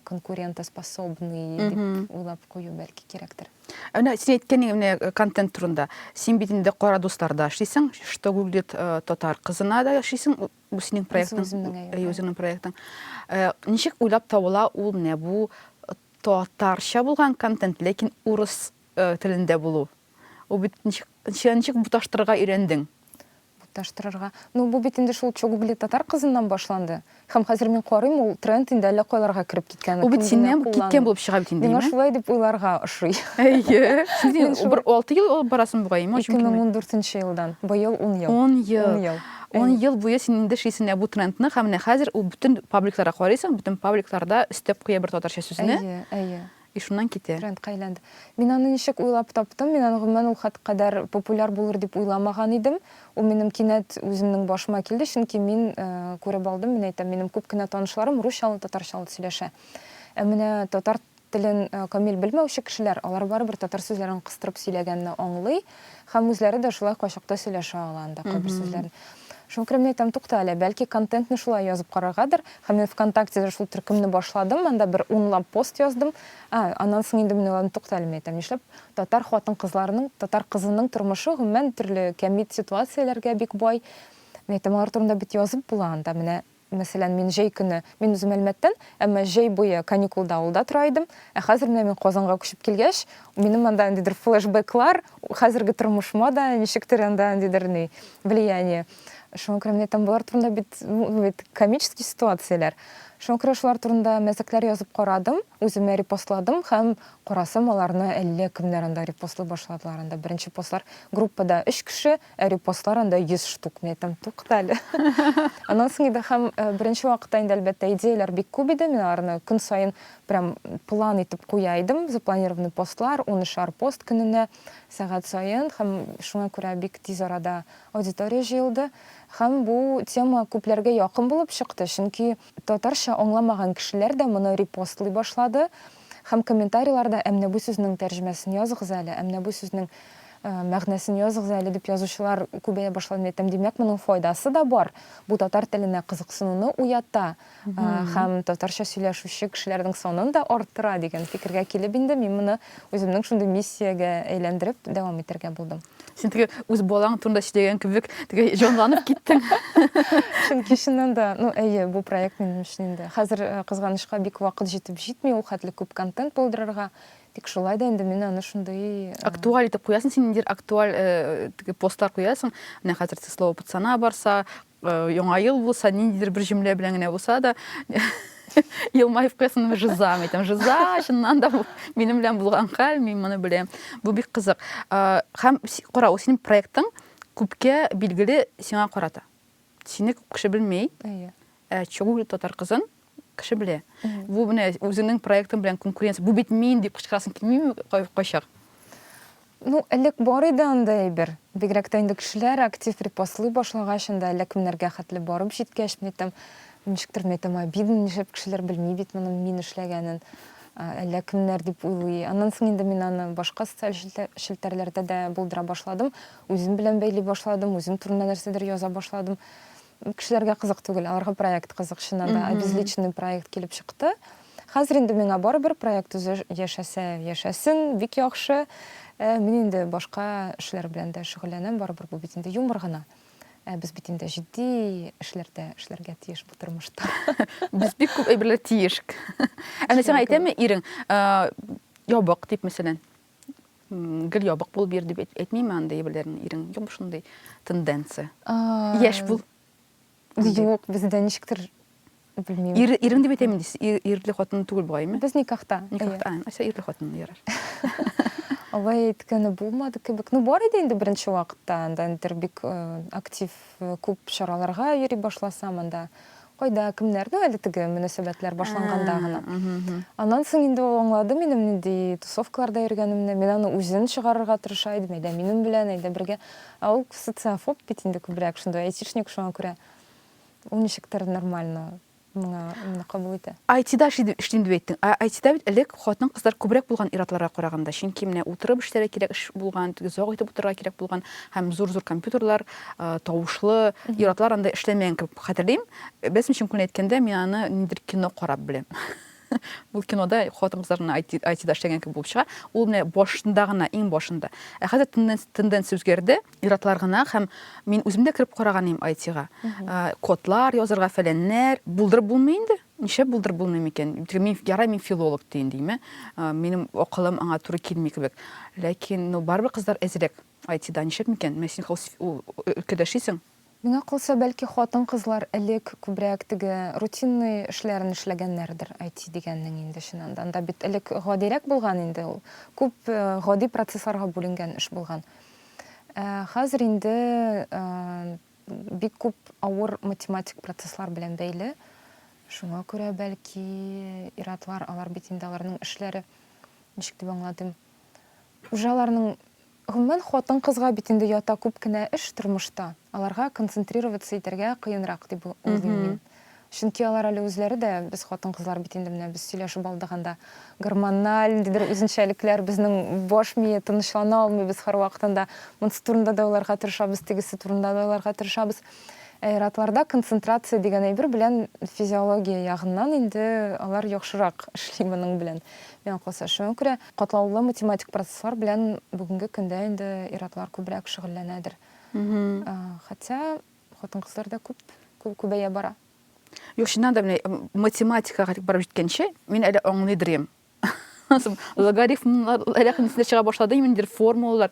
конкурентоспособный дип уйлап кую, бәлки, кирәктер. Әнә син әйткәнең менә э, контент турында. Син бит инде кара дусларда эшлисең, что гуглит э, татар кызына да эшлисең, бу синең проектың. Әй, үзеңнең проектың. Э, ничек уйлап табыла ул менә бу татарча булган контент, ләкин урыс телендә булу? Ул бит ничек ничек буташтырырга өйрәндең? Буташтырырга. Ну, бу бит инде шул чугубли татар кызыннан башланды. Хәм хәзер мин карыйм, ул тренд инде әллә кайларга кереп киткән. Бу бит синнән бу киткән булып чыга бит инде, әйеме? Миңа шулай дип уйларга ошый. Әйе. Син бер 6 ел алып барасың бугай, әйеме? 2014 елдан. Быел 10 ел. 10 ел. 10 ел буе син инде шисең менә бу трендны, хәм менә хәзер ул бөтен пабликларга карыйсың, бөтен пабликларда өстәп куя бер татарча сүзне. Әйе, әйе. И шуннан китә. Трендка әйләнде. Мин аны ничек уйлап таптым? Мин аны гомумән ул хат кадәр популяр булыр дип уйламаган идем. Ул минем кинәт үземнең башыма килде, чөнки мин күреп алдым, мин әйтәм, минем күп кенә танышларым русчалы, татарчалы сөйләшә. Ә менә татар телен камил белмәүче кешеләр, алар барыбер татар сүзләрен кыстырып сөйләгәнне аңлый, Һәм үзләре дә шулай кайчакта сөйләшә ала анда кайбер сүзләрне. Шуңа күрә мин әйтәм, тукта әле, бәлки контентны шулай язып караргадыр. Һәм мин ВКонтактеда шул төркемне башладым, анда бер унлап пост яздым. Ә, аннан соң инде мин уйладым, тукта әле, мин әйтәм, нишләп татар хатын-кызларының, татар кызының тормышы гомумән төрле кәмит ситуацияләргә бик бай. Мин әйтәм, алар турында бит язып була анда, менә Мәсәлән, мин җәй көне, мин үзем Әлмәттән, әмма җәй буе каникулда авылда тора идем, ә хәзер менә мин Казанга күчеп килгәч, минем анда ниндидер флешбеклар, хәзерге тормышыма да ничектер анда ниндидер ни, влияние. Шуңа күрә менә там болар турында бит, бит комический ситуацияләр. Шуңа күрә шулар турында мәзәкләр язып карадым, үземә репостладым һәм карасам аларны әллә кемнәр анда репостлый башладылар. Анда беренче постлар группада өч кеше, Ә репостлар анда 100 штук. Мин әйтәм, тукта әле. Аннан соң инде һәм беренче вакытта инде, әлбәттә, идеяләр бик күп иде. Мин аларны көн саен прям план итеп куя идем. Запланированный постлар, унышар пост көненә, сәгать саен. Һәм шуңа күрә бик тиз арада аудитория җыелды. Һәм бу тема күпләргә якын булып чыкты, чөнки татарча аңламаган кешеләр дә моны репостлый башлады. Һәм комментарийларда әмнә бу сүзнең тәрҗемәсен языгыз әле, әмнә бу сүзнең мәгънәсен языгыз әле дип язучылар күбәя башлады әйтәм. Димәк, моның файдасы да бар. Бу татар теленә кызыксынуны уята һәм татарча сөйләшүче кешеләрнең санын да арттыра дигән фикергә килеп инде мин моны үземнең шундый миссиягә әйләндереп дәвам итәргә булдым. Син теге үз балаң турында сөйләгән кебек теге җанланып киттең. Чөнки чыннан да, ну әйе, бу проект минем өчен инде. Хәзер э, кызганычка бик вакыт җитеп җитми ул хәтле күп контент булдырырга. Тик шулай да инде мин аны шундый э, Актуаль итеп куясың син ниндидер актуаль э, теге постлар куясың. Менә хәзер ты слово пацана барса, Яңа ел булса, ниндидер бер җөмлә белән генә булса да, елмаеп куясың жиза әйтәм жиза чыннан да минем белән булган хәл мин моны беләм бу бик кызык һәм кара ул синең проектың күпкә билгеле сиңа карата сине күп кеше белми чүгүл татар кызын кеше белә. Бу менә үзеңнең проектың белән конкуренция. Бу бит мин дип кычкырасың килмиме кайчак? Ну, элек бар иде анда әйбер. Бигрәк тә инде кешеләр актив репостлый башлагач, анда әллә кемнәргә хәтле барып җиткәч, мин әйтәм, ничектер мин әйтәм, обидно, нишләп кешеләр белми бит моның мин эшләгәнен. Әллә кемнәр дип уйлый. Аннан соң инде мин аны башка социаль челтәрләрдә дә булдыра башладым. Үзем белән бәйли башладым, үзем турында нәрсәдер яза башладым. Кешеләргә кызык түгел, аларга проект кызык, чыннан да, обезличенный проект килеп чыкты. Хәзер инде миңа барыбер, проект үзе яшәсә яшәсен, бик яхшы. Ә мин инде башка эшләр белән дә шөгыльләнәм, барыбер бу бит инде юмор гына. Ә без бит инде җитди эшләрдә эшләргә тиеш бу тормышта. Без бик күп әйберләр тиеш. Әнә сиңа әйтәме ирең, ябык дип, мәсәлән? Гел ябык булып йөр дип әйтмиме анда ябылерның ирең? Юк шундый тенденция. Яшь бул. Юк, бездә ничектер белмим. Ир ирем дип әйтәм инде. Ирле хатын түгел бугай ме? Без никахта. Никахта. Ася ирле хатын ярар. Алай әйткәне булмады кебек. Ну бар иде инде беренче вакытта анда интербик актив күп чараларга йөри башласам анда Кайда, кемнәр? Ну, әле теге мөнәсәбәтләр башланганда гына. Аннан соң инде ул аңлады минем нинди тусовкаларда йөргәнемне. Мин аны үзен чыгарырга тырыша идем, әйдә минем белән, әйдә бергә. Ә ул социофоб бит инде күбрәк, шундый айтишник, шуңа күрә ул ничектер нормально моңа моны кабул итә. IT-да эшлим дип әйттең. Ә IT-да бит элек хатын-кызлар күбрәк булган ир-атларга караганда, чөнки менә утырып эшләргә кирәк эш булган, теге озак итеп утырырга кирәк булган һәм зур-зур компьютерлар, тавышлы ир-атлар анда эшләмәгән кебек хәтерлим. Без чын күңелен әйткәндә, мин аны ниндидер кино карап беләм. Бу кинода хатын-кызлар гына IT-да эшләгән кебек булып чыга. Ул менә башында гына, иң башында. Ә хәзер тенденция үзгәрде. Ир-атлар гына һәм мин үзем дә кереп караган идем IT-га. Кодлар язырга, фәләннәр. Булдырып булмый инде. Нишләп булдырып булмый микән? Мин, ярай, мин филолог диен, димме? Минем акылым аңа туры килми кебек. Ләкин, ну, барыбер кызлар әзрәк. Әти да ничек микән? Менә син хәус өлкәдә эшлисең. Миңа калса, бәлки хатын-кызлар элек күбрәк теге рутинный эшләрен эшләгәннәрдер, әти дигәннең инде чыннан да. Анда бит элек гадирәк булган инде ул. Күп гади процессларга бүленгән эш булган. Ә хәзер инде бик күп авыр математик процесслар белән бәйле. Шуңа күрә, бәлки, ир-атлар, алар бит инде аларның эшләре, ничек дип аңлатыйм? Хуҗаларның, гомумән, хатын-кызга бит инде ята күп кенә эш тормышта. Аларга концентрироваться итәргә кыенрак дип уйлыйм мин. Чөнки алар әле үзләре дә, без хатын-кызлар бит инде менә без сөйләшеп алдык анда, гормональ ниндидер үзенчәлекләр, безнең баш мие тынычлана алмый, без һәрвакыт анда монсы турында да уйларга тырышабыз, тегесе турында да уйларга тырышабыз. Аэратларда концентрация дигән әйбер белән физиология ягыннан инде алар яхшырак эшли моның белән, миңа калса. Шуңа күрә катлаулы математик процесслар белән бүгенге көндә инде ир-атлар күбрәк шөгыльләнәдер. Хотя хатын-кызлар да күп күбәя бара. Юк, чыннан да, менә математикага барып җиткәнче, мин әле аңлый дырим. логарифмнар әллә нәрсә чыга башлады имендер формулалар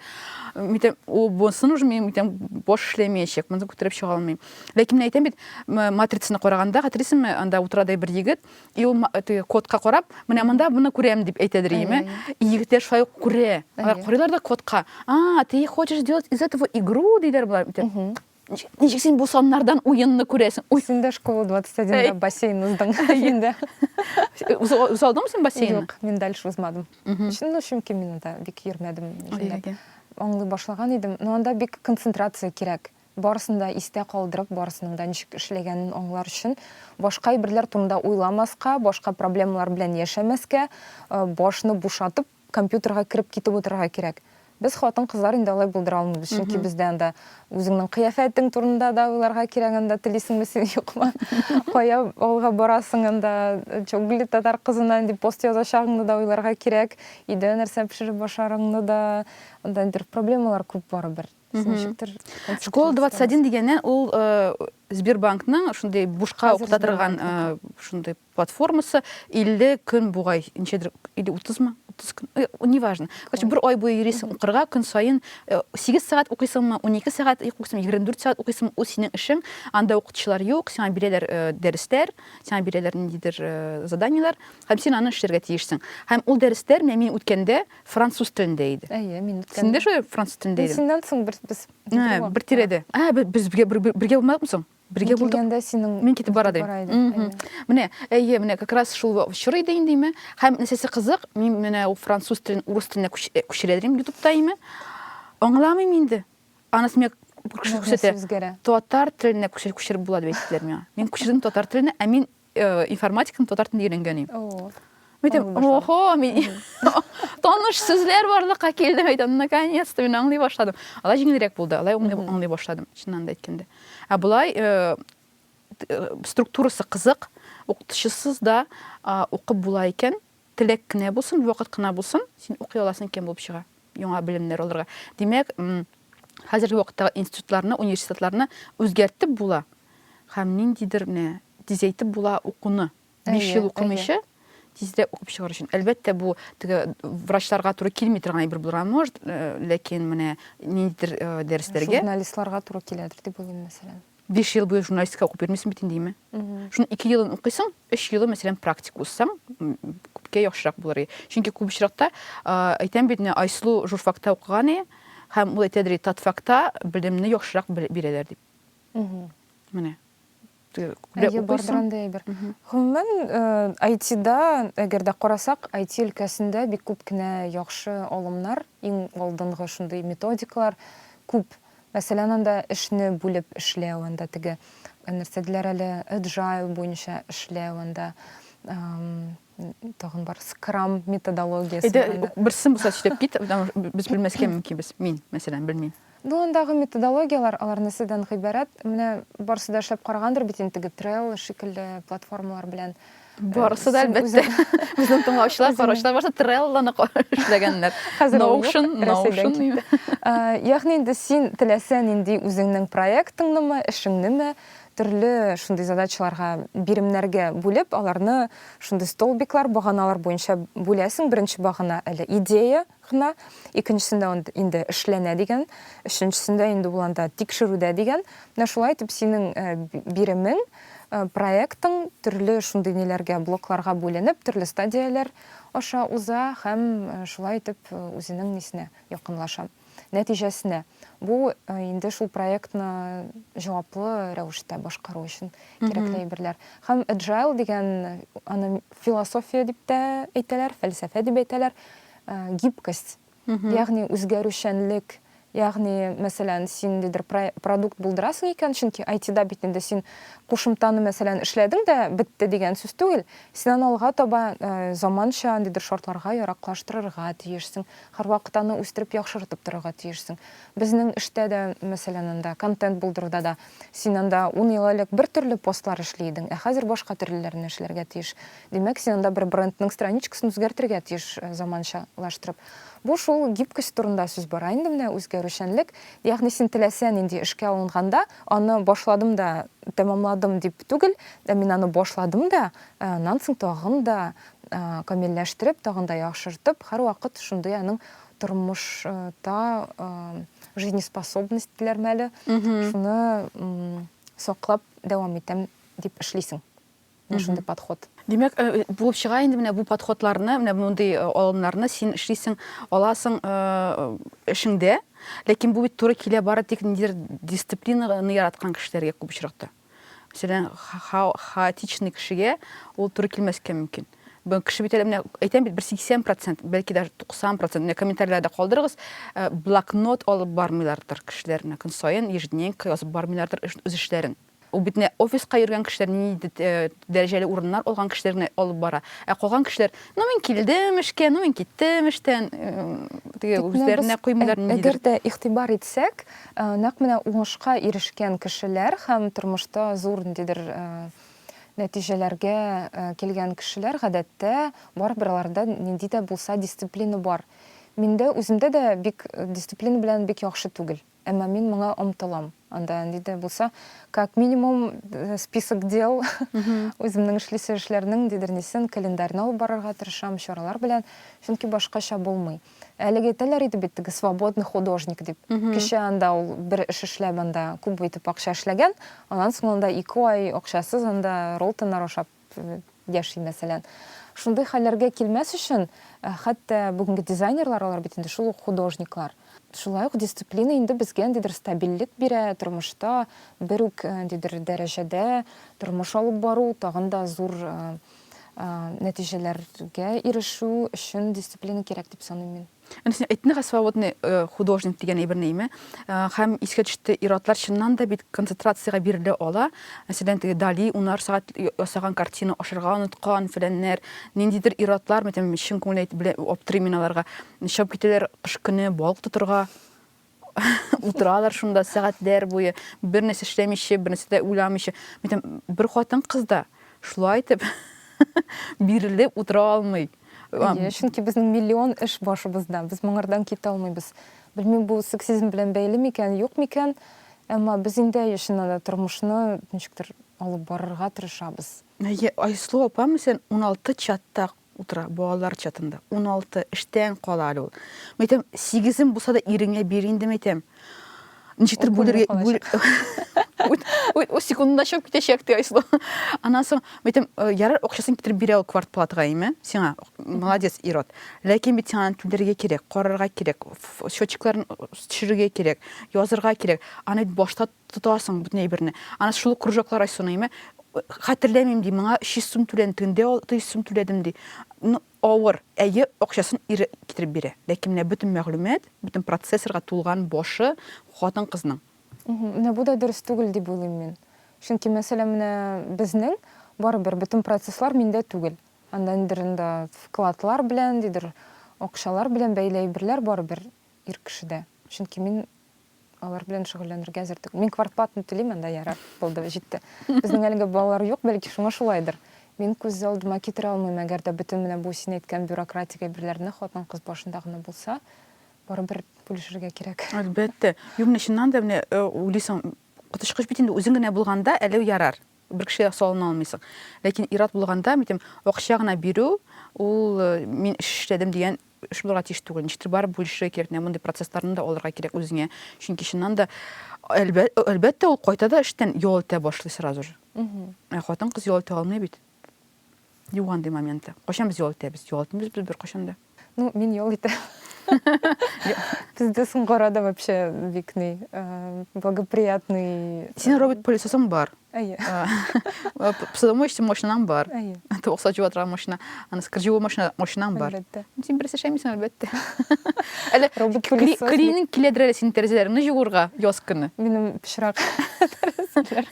митем у бонсын уже мин митем баш эшләмәячәк моны күтәреп чыга алмыйм ләкин мин әйтәм бит матрицаны караганда хәтерисеңме анда утырады бер егет и ул кодка карап менә монда моны күрәм дип әйтәдер иеме и егетләр шулай ук күрә алар карыйлар да кодка а ты хочешь делать из этого игру диләр болар ничек син бу саннардан уенны күрәсең ой син дә школа 21да бассейн уздың инде узалдыңмы син бассейн юк мин дальше узмадым ну чөнки мин анда бик йөрмәдем аңлый башлаган идем но анда бик концентрация кирәк барысын да истә калдырып барысының да ничек эшләгәнен аңлар өчен башка әйберләр турында уйламаска башка проблемалар белән яшәмәскә башны бушатып компьютерга кереп китеп утырырга кирәк. Без хатын-кызлар инде алай булдыра алмыйбыз, чөнки бездә анда үзеңнең кыяфәтең турында да уйларга кирәк, анда телисеңме син, юкмы, кая авылга барасың, анда Чоглы татар кызына нинди пост язачагыңны да уйларга кирәк, өйдә нәрсә пешереп ашарыңны да, анда бер проблемалар күп барыбер. Без ничектер компьютерга Школа 21 дигәннән ул Сбербанкның шундый бушка укыта торган шундый платформасы 50 көн бугай ничәдер или 30 мы 30 көн э, неважно короче бер ай буе йөрисең укырга көн саен 8 э, сәгать укыйсыңмы 12 сәгать укыйсыңмы 24 сәгать укыйсыңмы ул синең эшең анда укытучылар юк сиңа бирәләр э, дәресләр сиңа бирәләр ниндидер заданиеләр һәм син аны эшләргә тиешсең һәм ул дәресләр менә мин үткәндә француз телендә иде әйе мин син дә шулай француз телендә идең синнән соң без бер тирәдә безгә бергә булмадыкмы соң Бергә булдык. Мин килгәндә синең Мин китеп бара идем. Бара идем. Менә, әйе, менә как раз шул чор иде инде име. Һәм нәрсәсе кызык, мин менә ул француз телен урыс теленә э, күчерәдем ютубта име. Аңламыйм инде. Анасы миңа күрсәтә. Татар теленә күчереп була дип әйттеләр миңа. Мин күчердем татар теленә, ә мин информатиканы татар телендә өйрәнгән идем Митем, охо, мин таныш сүзләр барлыкка килде, әйтәм, наконец то мин аңлый башладым. Алай җиңелрәк булды, алай аңлый башладым, чыннан да әйткәндә. Ә болай структурасы кызык, укытучысыз да укып була икән, Теләк кенә булсын, вакыт кына булсын, син укый аласың икән булып чыга, яңа белемнәр алырга. Димәк, хәзерге вакыттагы институтларны, университетларны үзгәртеп була һәм ниндидер менә тизәйтеп була укуны. Биш ел укымыйча тизрәк укып чыгар өчен. Әлбәттә, бу теге врачларга туры килми торган әйбер булырга может, э, ләкин менә ниндидер э, дәресләргә журналистларга туры киләдер дип уйлыйм, мәсәлән. Биш ел буе журналистика укып йөрмисең бит инде, име? Шуның ике елын укыйсың, өч елы, мәсәлән, практика узсаң, күпкә яхшырак булыр иде. Чөнки күп очракта, әйтәм бит, Айсылу журфакта укыган иде, һәм ул әйтәдер иде, татфакта белемне яхшырак бирәләр дип. Менә. Күбрәк укыйсың. Гомумән, IT-да, әгәр дә карасак, IT өлкәсендә бик күп кенә яхшы алымнар, иң алдынгы шундый методикалар күп. Мәсәлән, анда эшне бүлеп эшләү, анда теге нәрсә диләр әле, Agile буенча эшләү, анда тагын бар, Scrum методологиясе. Әйдә, берсен булса сөйләп кит, без белмәскә мөмкинбез. Мин, мәсәлән, белмим. Ну, андагы методологияләр, алар нәрсәдән гыйбарәт? Менә барысы да эшләп карагандыр бит инде теге Trello шикелле платформалар белән. Барысы да әлбәттә. Безнең тыңлаучылар караучылар барысы Trello-ны эшләгәннәр. Хәзер Notion, Notion дими. Ягъни инде син теләсә нинди үзеңнең проектыңнымы, эшеңнеме, төрле шундый задачаларга, биремнәргә бүлеп, аларны шундый столбиклар, баганалар буенча бүләсең. Беренче багана әле идея, гына, икенчесендә ул инде эшләнә дигән, өченчесендә инде ул анда тикшерүдә дигән. Менә шулай итеп синең биремең, проектың төрле шундый ниләргә, блокларга бүленеп, төрле стадияләр аша уза һәм шулай итеп үзенең нисенә якынлаша, нәтиҗәсенә. Бу инде шул проектны җаваплы рәвештә башкару өчен кирәкле әйберләр. Һәм Agile дигән, аны философия дип тә әйтәләр, фәлсәфә дип әйтәләр. Гибкость, ягъни үзгәрүчәнлек, ягъни, мәсәлән, син ниндидер продукт булдырасың икән, чөнки IT-да бит инде син кушымтаны, мәсәлән, эшләдең дә бетте дигән сүз түгел, син аны алга таба заманча ниндидер шартларга яраклаштырырга тиешсең, һәрвакыт аны үстереп, яхшыртып торырга тиешсең. Безнең эштә дә, мәсәлән, анда контент булдыруда да син анда ун ел элек бер төрле постлар эшли идең, ә хәзер башка төрлеләрне эшләргә тиеш. Димәк, син анда бер брендның страничкасын үзгәртергә тиеш заманчалаштырып. Бу шул гибкость турында сүз бара инде менә, үзгәрүчәнлек. Ягъни син теләсә нинди эшкә алынганда, аны башладым да, тәмамладым дип түгел, ә мин аны башладым да, аннан соң тагын да камилләштереп, тагын да яхшыртып, һәрвакыт шундый аның тормышта жизнеспособность диләрме әле, шуны саклап дәвам итәм дип эшлисең. менә шундый подход. Димәк, булып чыга инде менә бу подходларны, менә мондый алымнарны син эшлисең, аласың эшеңдә. Ләкин бу бит туры килә бары тик ниндидер дисциплинаны яраткан кешеләргә күп очракта. Мәсәлән, хаотичный кешегә ул туры килмәскә мөмкин. Бу кеше бит әле менә әйтәм бит, бер 80%, бәлки даже 90%, менә комментарийларда калдырыгыз, блокнот алып бармыйлардыр кешеләр, менә көн саен ежедневник язып бармыйлардыр үз эшләрен. Ул бит нә офиска йөргән кешеләр, ниндидер дәрәҗәле урыннар алган кешеләр генә алып бара. Ә калган кешеләр, ну мин килдем эшкә, ну мин киттем эштән, теге үзләренә куймыйлар ниндидер. Әгәр дә игътибар итсәк, нәкъ менә уңышка ирешкән кешеләр һәм тормышта зур ниндидер нәтиҗәләргә килгән кешеләр, гадәттә, барыбер аларда нинди дә булса дисциплина бар. Миндә, үземдә дә бик дисциплина белән бик яхшы түгел. Әмма мин моңа омтылам. Анда нинди дә булса, как минимум, список дел, үземнең эшлисе эшләрнең ниндидер нисен, календарьны алып барырга тырышам, чаралар белән, чөнки башкача булмый. Әлеге әйтәләр иде бит теге свободный художник дип. Кичә анда ул бер эш эшләп анда күп итеп акча эшләгән, аннан соң анда ике ай акчасыз анда роллтоннар ашап яши, мәсәлән. Шундый хәлләргә килмәс өчен, хәтта бүгенге дизайнерлар, алар бит инде шул ук художниклар. Шулай ук дисциплина инде безгә ниндидер стабильлек бирә, тормышта бер үк ниндидер дәрәҗәдә тормыш алып бару, тагын да зур нәтиҗәләргә ирешү өчен дисциплина кирәк дип саныйм мин. Әнә син әйттеңгә свободный э, художник дигән әйберне име? Э, һәм искә төште иратлар чыннан да бит концентрациягә бирелә ала. Мәсәлән, теге Дали унар сәгать ясаган картина ашырга оныткан фәләннәр, ниндидер иратлар, мәсәлән, чын күңелле әйтеп белә аптырыйм мин аларга. Чыгып китәләр кыш көне балык тотырга. Утыралар шунда сәгатьләр буе, бернәрсә эшләмичә, бернәрсә дә уйламыйча. Мин бер хатын-кыз да шулай итеп бирелеп утыра алмый. Әйе, чөнки безнең миллион эш башыбызда, без моңардан китә алмыйбыз. Белмим, бу сексизм белән бәйле микән, юк микән, әмма без инде, әйе, чыннан да тормышны ничектер алып барырга тырышабыз. Әйе, Айсылу апа, мәсәлән, уналты чатта утыра, балалар чатында, уналты, эштән кала әле ул. Мин әйтәм, сигезем булса да иреңә бир инде, мин әйтәм. Ничектер Ул бүлергә... күнеп бүл- калачак. Үт- үт- Үз секундында чыгып китәчәк, ди Айсылу. Аннан соң, мин әйтәм, «Э, ярар, акчасын китереп бирә ул квартплатага, әйме, сиңа, молодец, ир-ат. Ләкин бит сиңа аны түләргә кирәк, карарга кирәк, ф- счетчикларын э, төшерергә кирәк, язырга кирәк. Аны бит башта Тотасың бөтен әйберне. Аны шул ук кружоклар Айсуның име? Хәтерләмим, ди, моңа 300 сум түләдем, тегендә 600 сум түләдем, ди. Ну, авыр. Әйе, акчасын ире китереп бирә. Ләкин менә бөтен мәгълүмат, бөтен процессорга тулган башы хатын-кызның. Менә бу да дөрес түгел дип уйлыйм мин. Чөнки мәсьәлә менә безнең, барыбер бөтен процесслар миндә түгел. Анда нидер анда вкладлар белән, нидер акчалар белән бәйле әйберләр барыбер ир кешедә. Чөнки мин алар белән шөгыльләнергә әзер түгел. Мин квартплатаны түлим, анда ярар, булды, җитте. Безнең әлегә балалар юк, бәлки шуңа шулайдыр. Мин күз алдыма китерә алмыйм, әгәр дә бөтен менә бу син әйткән бюрократик әйберләрне хатын-кыз башында гына булса, барыбер бүлешергә кирәк. Әлбәттә. Юк, менә чыннан да менә уйлыйсың, коточкыч бит инде, үзең генә булганда әле ярар. Бер кешегә салына алмыйсың. Ләкин ир-ат булганда, мин әйтәм, акча гына бирү, ул мин эш эшләдем дигән эш булырга тиеш түгел. Ничектер барып бүлешергә кирәк, менә мондый процессларны да алырга кирәк үзеңә. Чөнки чыннан да, әлбәттә, ул кайта да эштән ял итә башлый сразу же. Ә хатын-кыз ял итә алмый бит. Юк андый моменты. Кайчан без ял итәбез? Ял итмибез без беркайчан да. Ну, мин ял итәм. Бездә соңгы арада вообще бик ни, э, благоприятный. Синең робот пылесосың бар. Әйе. Э, Посудомой өчен машинаң бар. Әйе. Тавык сачып атырган машина, аны скрживой машина, машинаң бар. Әлбәттә. Син берсе шәмисең, әлбәттә. Әле робот пылесос. Клининг киләдер әле синең тәрәзәләреңне җуырга яз көне. Минем пычрак тәрәзәләр.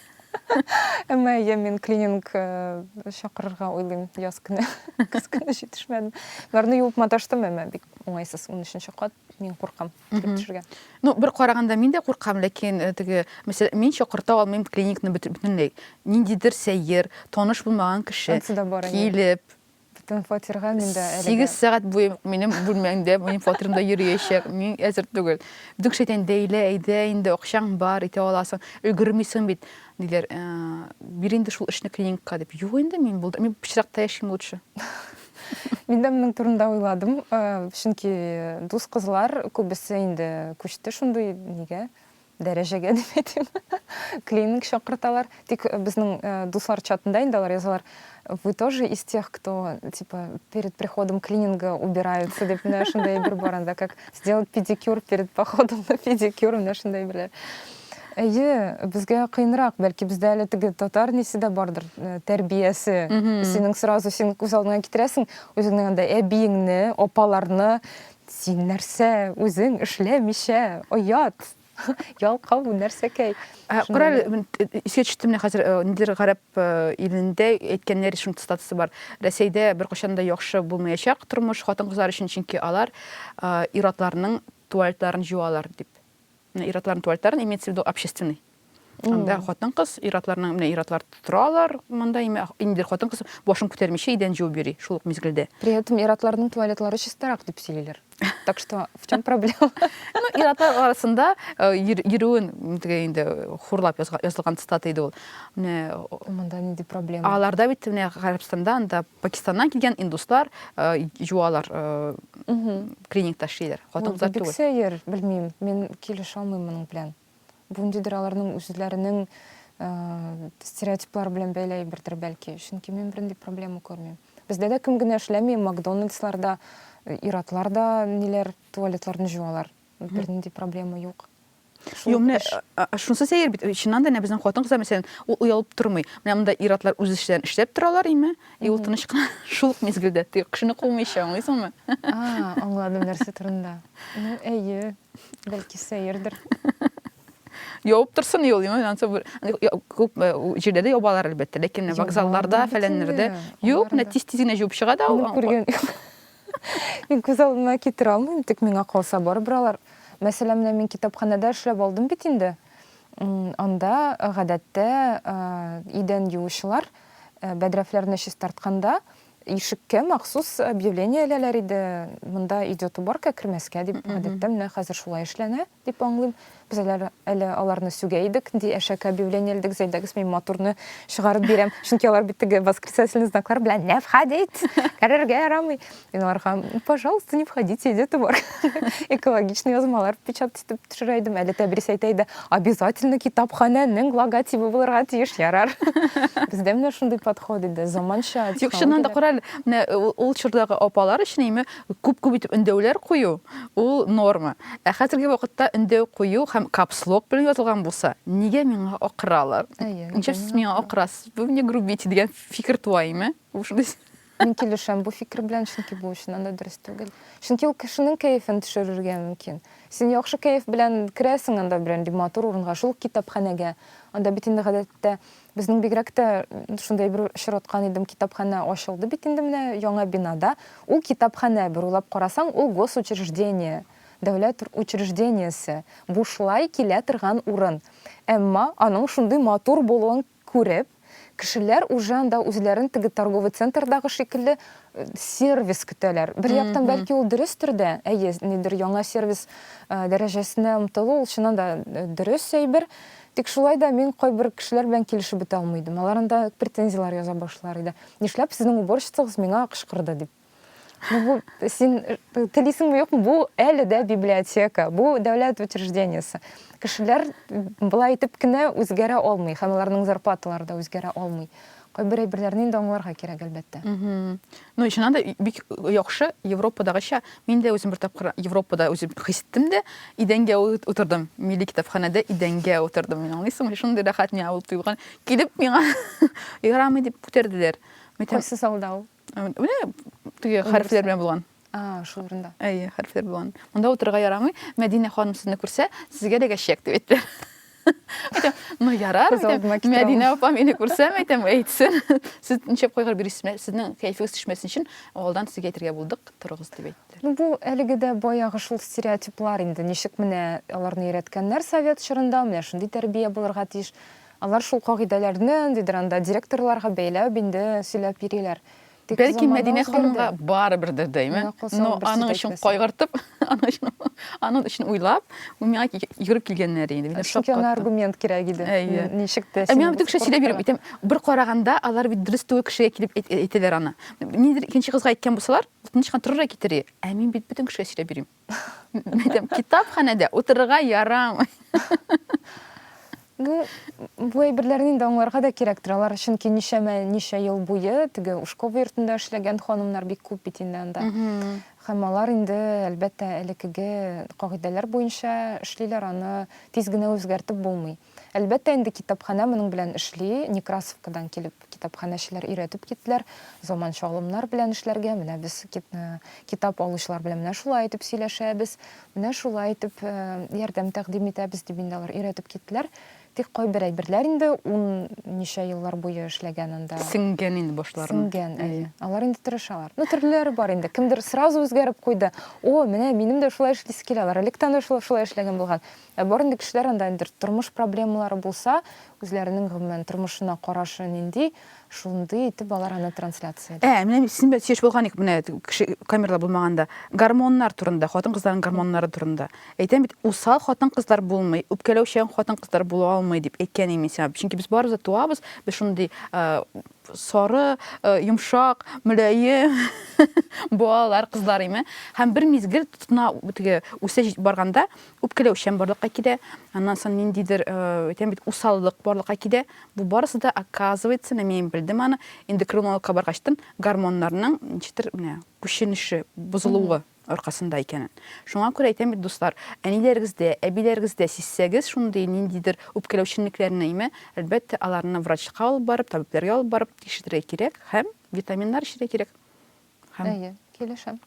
Әмма әйе, мин клининг э, чакырырга уйлыйм яз көне. Көз көне җитешмәдем. Барны юып маташтым, әмма бик уңайсыз 13 кат. Мин куркам килеп төшергә. Ну, бер караганда мин дә куркам, ләкин э, теге, мәсәлән, мин чакырта алмыйм клиникны бөтенләй. Ниндидер сәер, таныш булмаган кеше килеп, Бөтен фатирга мин дә әлегә. Сигез сәгать буе минем бүлмәңдә, минем фатирымда йөриячәк. Мин әзер түгел. Бөтен кеше әйтә, Дәйлә, әйдә инде, акчаң бар, итә аласың. Өлгермисең бит, диләр. Ә, бир инде шул эшне клиникка, дип. Юк инде, мин булды, мин пычракта яшим лучше. Мин дә моның турында уйладым, чөнки дус кызлар күбесе инде күчте шундый нигә. Дәрәҗәгә дип әйтим. Клининг чакырталар. Тик безнең дуслар чатында инде алар язалар. Вы тоже из тех, кто типа перед приходом клининга убираются дип менә шундый әйбер бар анда, как сделать педикюр перед походом на педикюр, менә шундый әйберләр. Әйе, безгә кыенрак, бәлки бездә әле теге татар несе дә бардыр, тәрбиясе. Синең сразу син күз алдыңа китерәсең, үзеңнең анда әбиеңне, апаларны, Син нәрсә, үзең эшләмичә, оят! Ялкау, нәрсәкәй! Кара әле, мин искә төште, менә хәзер ниндидер гарәп илендә әйткәннәр, шуның цитатасы бар, Рәсәйдә беркайчан да яхшы булмаячак тормыш хатын-кызлар өчен, чөнки алар ир-атларның туалетларын җуалар, дип. Ир-атларның туалетларын имеется в виду общественный. Анда хатын-кыз, ир-атларның менә ир-атлар торалар, монда име инде хатын-кыз башын күтәрмичә идән җуып йөри шул ук мизгелдә. При этом ир-атларның туалетлары чистарак дип сөйлиләр. Так что в чем проблема? Ну, ир-атлар арасында э, йөрүен теге инде хурлап язылган цитата иде ул. Менә монда нинди проблема? Аларда бит менә Гарәбстанда анда Пакистаннан килгән индуслар юалар, клиникта эшлиләр. Хатын-кызлар түгел. Бик сәер, белмим, мин килешә алмыйм моның белән. Бу ниндидер аларның үзләренең стереотиплары белән бәйле әйбердер бәлки. Чөнки мин бернинди проблема күрмим. Бездә дә кем генә эшләми, Макдональдсларда, ир-атлар да ниләр, туалетларны җуалар. Бернинди проблема юк. Юк, менә шунысы сәер бит. Чыннан да, безнең хатын-кызлар мәсәлән, ул уялып тормый. Менә монда ир-атлар үз эшләрен эшләп торалар име? И ул тыныч кына шул ук мизгелдә тик кешене кумыйча, аңлыйсыңмы? А, аңладым нәрсә турында. Ну, әйе, бәлки сәердер. Явып торсын юл, юл, ансы бер. Күп җирдә ябалар әлбәттә, ләкин вокзалларда, фәләннәрдә. Юк, менә тиз-тиз генә җуып чыга да ул. Күргән. Мин күз алдына китерә алмыйм, тик миңа калса барыбер алар. Мәсәлән, менә мин китапханәдә эшләп алдым бит инде. Анда гадәттә идән юучылар бәдрәфләрне чистартканда ишеккә махсус объявление эләләр иде, монда идет уборка, кермәскә дип. Гадәттә менә хәзер шулай эшләнә. Дип аңлыйм. Без әле, әле аларны сүгә идек, ди Әшәке объявление элдек, зәйдәгез, мин матурны чыгарып бирәм, чөнки алар бит теге восклицательный знаклар белән не входить, керергә ярамый. Мин аларга, пожалуйста, не входите, иде тубар. Экологичный язмалар печатать итеп төшерә идем, әле Тәбрис әйтә иде, обязательно китапханәнең логотибы булырга тиеш, ярар. Бездә менә шундый подход иде, заманча Юк, чыннан да, кара әле, менә ул чордагы апалар өчен име, Күп-күп итеп өндәүләр кую, ул норма. Ә хәзерге вакытта өндәү кую һәм капслок белән язылган булса, нигә миңа акыралар? Ничә сез миңа акырасыз? Вы мне грубите дигән фикер туа име? Мин килешәм бу фикер белән, чөнки бу чыннан да дөрес түгел. Чөнки ул кешенең кәефен төшерергә мөмкин. Син яхшы кәеф белән керәсең анда берәнди матур урынга, шул ук китапханәгә. Анда бит инде гадәттә Безнең бигрәк тә шундый бер очраткан идем, китапханә ачылды бит инде менә яңа бинада. Ул китапханә, бер уйлап карасаң, ул госучреждение, дәүләт учреждениесе, бушлай килә торган урын. Әмма аның шундый матур булуын күреп, кешеләр уже анда үзләрен теге торговый центрдагы шикелле сервис көтәләр. Бер яктан, бәлки ул дөрестер дә, әйе, нидер яңа сервис дәрәҗәсенә омтылу, ул чыннан да дөрес әйбер. Тик шулай да мин кайбер кешеләр белән килешеп бетә алмый идем. Алар анда претензияләр яза башлар иде. Нишләп сезнең уборщицагыз миңа кычкырды дип. Ну, бу син телисеңме юкмы? Бу әле дә библиотека, бу дәүләт учреждениесе. Кешеләр болай итеп кенә үзгәрә алмый һәм аларның зарплаталары да үзгәрә алмый. Кайбер әйберләрне инде аңларга кирәк, әлбәттә. Ну, чыннан да, бик яхшы, Европадагыча. Мин дә үзем бер тапкыр Европада үзем хис иттем дә, идәнгә утырдым. Милли китапханәдә идәнгә утырдым. Мин, аңлыйсыңмы, шундый рәхәт миңа булып тоелган. Килеп миңа, Ярамый, дип күтәрделәр. Кайсы залда ул? Менә теге хәрефләр белән булган. А, шул урында. Әйе, хәрефләр булган. Монда утырырга ярамый. Мәдинә ханым сезне күрсә, сезгә дә гәшәк дип әйтте. Әйтәм, ну ярар, Мәдинә апа мине күрсәм, әйтәм, әйтсен. Сез ничек кайгыр бирисез, сезнең кәефегез төшмәсен өчен алдан сезгә әйтергә булдык, торыгыз дип әйтте. Ну бу әлеге дә баягы шул стереотиплар инде. Ничек менә аларны өйрәткәннәр совет чорында, менә шундый тәрбия булырга тиеш. Алар шул кагыйдәләрне, ниндидер анда директорларга бәйләп, инде сөйләп йөриләр. Тик Бәлки замана Мәдинә үзгәрде. ханымга барыбер дә дәйме. Менә кылса Но ул бер сүз аның өчен әйтмәсен. кайгыртып, аның өчен, аның өчен уйлап, ул миңа ки- йөгереп килгәннәр иде. Мине Чөнки ана шаккатты. аргумент кирәк иде. Әйе. Н- Ничек тә Ә син миңа бу бөтен кеше сөйләп йөреп спортка- әйтәм, бер караганда алар бит дөрес түгел кешегә килеп әйт- әйтәләр аны. Ниндидер икенче кызга әйткән булсалар, ул тыныч кына торыр да китер иде. Ә мин бит бөтен кешегә сөйләп йөрим. Мин әйтәм, китапханәдә утырырга ярамый. Ну, бу әйберләрне инде аңларга да кирәк торалар, чөнки ничәмә ничә ел буе теге Ушкова йортында эшләгән ханымнар бик күп бит инде анда. Һәм алар инде, әлбәттә, элеккеге кагыйдәләр буенча эшлиләр, аны тиз генә үзгәртеп булмый. Әлбәттә инде, китапханә моның белән эшли. Некрасовкадан килеп, китапханәчеләр өйрәтеп киттеләр. Заманча алымнар белән эшләргә. Менә без китап алучылар белән менә шулай итеп сөйләшәбез, менә шулай итеп ярдәм тәкъдим итәбез, дип инде алар өйрәтеп киттеләр. Тик кайбер әйберләр инде ун ничә еллар буе эшләгән анда. Сеңгән инде башларына. Сеңгән, әйе. Алар инде тырышалар. Ну, төрлеләре бар инде. Кемдер сразу үзгәреп куйды. О, менә минем дә шулай эшлисе килә. Алар электән дә шулай эшләгән булган. Ә бар инде кешеләр анда инде тормыш проблемалары булса, үзләренең гомумән тормышына карашы нинди, шундый итеп алар аны трансляция итә. Ә, менә синбәлән сөйләшеп алган идек менә кеше камералар булмаганда. Гормоннар турында, хатын-кызларның гормоннары турында. Әйтәм бит, усал хатын-кызлар булмый, үпкәләүчән хатын-кызлар була алмый дип әйткән идем мин сиңа. Чөнки без барыбыз да туабыз, без шундый сары, йомшак, мөлаем балалар, кызлар име. Һәм бер мизгел тотына, теге үсә барганда, Үпкәләүчән барлыкка килә, аннан соң ниндидер, әйтәм бит, усаллык барлыкка килә. Бу барысы да, оказывается, менә мин белдем аны, эндокринологка баргачтын, гормоннарның ничектер менә күченеше, бозылуы аркасында икәнен. Шуңа күрә әйтәм бит, дуслар, әниләрегездә, әбиләрегездә сизсәгез шундый ниндидер үпкәләүчәнлекләрне, име, әлбәттә, аларны врачка алып барып, табибләргә алып барып тикшертергә кирәк һәм витаминнар эчерергә кирәк. Һәм... Әйе, килешәм.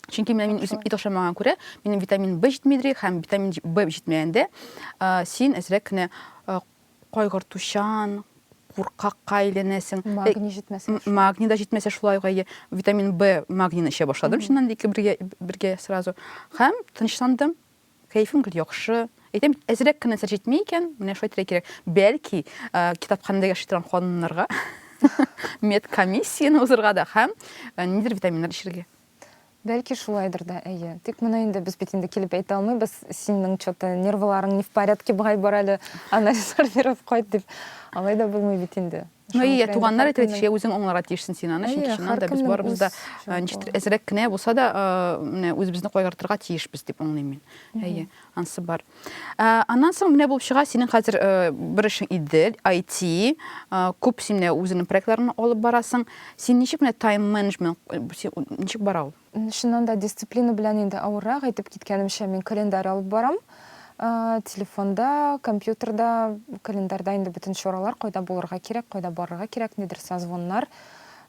Чөнки менә мин үзем ит ашамаган күрә, минем витамин B җитмидри һәм витамин B җитмәгәндә, син әзрәк кенә кайгыртучан, куркакка әйләнәсең. Магний җитмәсә. Магний да җитмәсә шулай ук әйе. Витамин B магнийны эчә башладым, чыннан да ике бергә бергә сразу. Һәм тынычландым. Кәефем гел яхшы. Әйтәм бит, әзрәк кенә нәрсә җитми икән, менә шулай итәргә кирәк. Бәлки, китапханәдә яши торган ханымнарга медкомиссияне узырга да һәм нидер витаминнар эчәргә. Бәлки шулайдыр да, әйе. Тик моны инде без бит инде килеп әйтә алмыйбыз. Синең что-то нервыларың не в порядке, бай бар әле, анализлар биреп кайт дип. Алай да булмый бит инде. Ну, и туганнар әйтер итешә, үзең аңларга тиешсең син аны, чөнки чыннан да без барыбыз да ничектер әзрәк кенә булса да, менә үзебезне кайгыртырга тиешбез дип аңлыйм мин. Әйе, ансы бар. Аннан соң менә булып чыга, синең хәзер бер эшең Идел, IT, күп син менә үзеңнең проектларыңны алып барасың. Син ничек менә тайм-менеджмент, ничек бара ул? Чыннан да, дисциплина белән инде авыррак. Әйтеп киткәнемчә, мин календарь алып барам. Телефонда, компьютерда, календарьда инде бөтен чаралар, кайда булырга кирәк, кайда барырга кирәк, нидер созвоннар.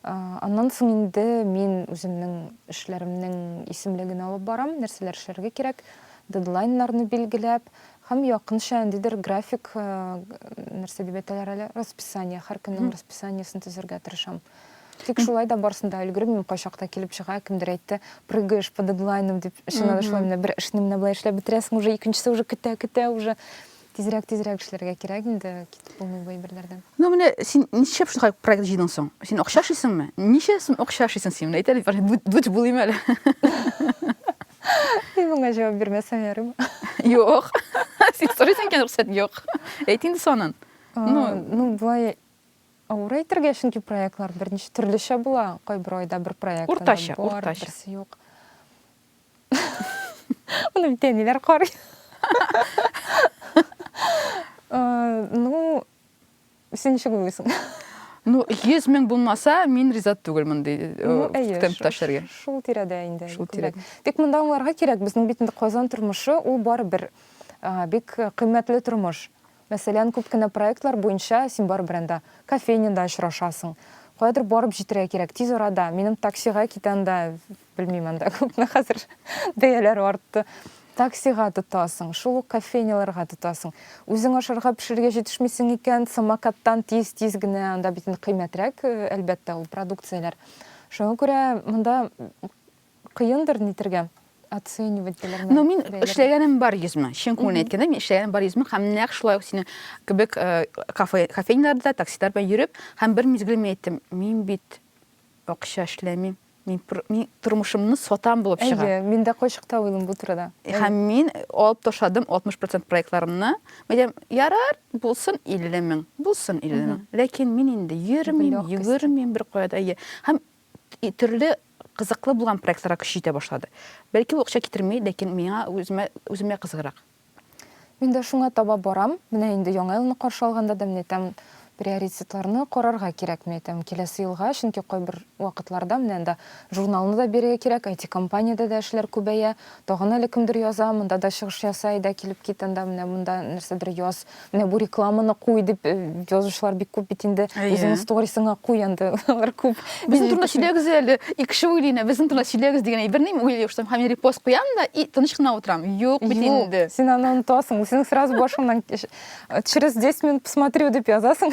Аннан соң инде мин үземнең эшләремнең исемлеген алып барам, нәрсәләр эшләргә кирәк, дедлайннарны билгеләп һәм якынча ниндидер график, нәрсә дип әйтәләр әле, расписание, һәр көннең расписаниесен төзергә тырышам. Тик шулай да барсын да өлгермим, кайчакта килеп чыга, кемдер әйтте, прыгаешь по дедлайнам дип, чыннан да шулай менә бер эшне менә болай эшләп бетерәсең, уже икенчесе уже көтә, көтә уже. Тизрәк, тизрәк эшләргә кирәк инде, китеп булмый бу әйберләрдән. Ну менә син ничек шундый проект җыйдың соң? Син акча эшлисеңме? Ничә сум акча эшлисең син? Менә әйтә бит, бүт булыйм әле. Мин моңа җавап бирмәсәм ярый. Юк. Син сорыйсың икән рөхсәт, юк. Әйт инде санын. Ну, ну болай Авыр әйтергә, чөнки проектлар берничә төрлечә була. Кайбер айда бер проект Уртача, бар, уртача. берсе юк. Аны бит әниләр карый. Э, ну, син ничек уйлыйсың? Ну, 100 мең булмаса, мин риза түгел мондый э, ну, темпта эшләргә. Шул тирәдә инде. Шул тирәдә. Тик монда аңларга кирәк, безнең бит инде Казан тормышы, ул барыбер бик кыйммәтле тормыш. Мәсәлән, күп кенә проектлар буенча син барыбер анда кофейняда очрашасың. Каядыр барып җитәргә кирәк, тиз арада. Минем таксига китә анда, белмим, анда күпме хәзер бәяләр артты. Таксига тотасың, шул ук кофейняларга тотасың. Үзең ашарга пешерергә җитешмисең икән, самокаттан тиз-тиз генә, анда бит инде кыйммәтрәк, әлбәттә, ул продукцияләр. Шуңа күрә монда Кыендыр нитергә, оценивать теләргә. Ну, мин эшләгәнем бар йөзмә. Чын күңелен әйткәндә, мин эшләгәнем бар йөзмә һәм нәкъ шулай ук синең кебек э, кафе, кофейняларда, таксидар белән йөреп, һәм бер мизгел мин әйттем, мин бит акча эшләмим, мин, мин тормышымны сатам булып чыга. Әйе, мин дә кайчакта уйлыйм бу турыда. Һәм мин алып ташладым 60% проектларымны. Мәдәм, ярар, булсын 50 мең, булсын 50 мең. Ләкин мин инде йөрмим, йөгермим бер кая да. Һәм Төрле кызыклы булган проектларга көч җитә башлады. Бәлки ул акча китерми, ләкин миңа үземә үземә кызыграк. Мин дә шуңа таба барам. Менә инде Яңа елны каршы алганда да мин әйтәм, приоритетларны карарга кирәк, мин әйтәм, киләсе елга, чөнки кайбер вакытларда менә анда журналны да бирергә кирәк, IT-компаниядә дә эшләр күбәя, Тагын әле кемдер яза, монда да чыгыш ясай да, килеп кит анда, менә монда нәрсәдер яз, менә бу рекламаны куй дип э, язучылар бик күп бит инде. Әйе. Үзеңнең сторисыңа куй анда, алар күп. Безнең турында сөйләгез әле, икеше уйлыйна, безнең турында сөйләгез дигән әйберне мин уйлый башлыйм, һәм репост куям да и тыныч кына утырам. Юк бит инде. Син аны онытасың, синең сразу башыңнан через 10 минут посмотрю дип язасың.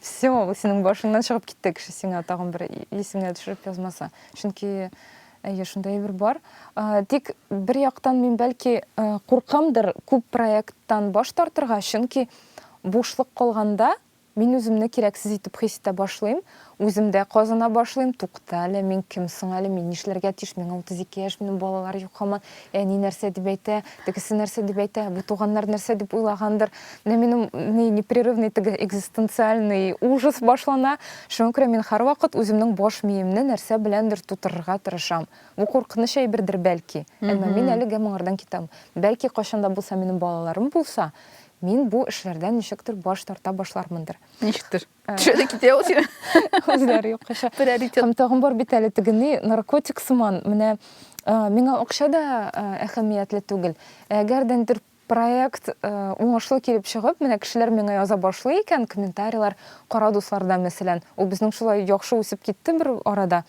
Все, синең башыңнан чыгып китте кеше сиңа тагын бер исеңә төшереп язмаса. Чөнки Әйе, шундый әйбер бар. Тик бер яктан мин бәлки куркамдыр күп проекттан баш тартырга, чөнки бушлык калганда мин үземне кирәксез итеп хис итә башлыйм, үземдә казына башлыйм, тукта әле, мин кем соң әле, мин нишләргә тиеш, миңа 32 яшь, минем балалар юк һаман, Әни нәрсә дип әйтә, тегесе нәрсә дип әйтә, бу туганнар нәрсә дип уйлагандыр. Менә минем ни непрерывный теге экзистенциальный ужас башлана. Шуңа күрә мин һәрвакыт үземнең баш миемне нәрсә беләндер тутырырга тырышам. Бу куркыныч әйбердер, бәлки. Әмма мин әлегә моңардан китәм. Бәлки кайчан да булса минем балаларым булса, мин бу эшләрдән ничектер баш тарта башлармындыр. Ничектер. Төшәдә китә ул сине. Үзләре юк кеше. Приоритет. Һәм тагын бар бит әле тегене наркотик сыман. Менә миңа акча да әһәмиятле түгел. Әгәр дә нидер проект уңышлы килеп чыгып, менә кешеләр миңа яза башлый икән, комментарийлар, кара дусларда мәсәлән. Ул безнең шулай яхшы үсеп китте бер арада.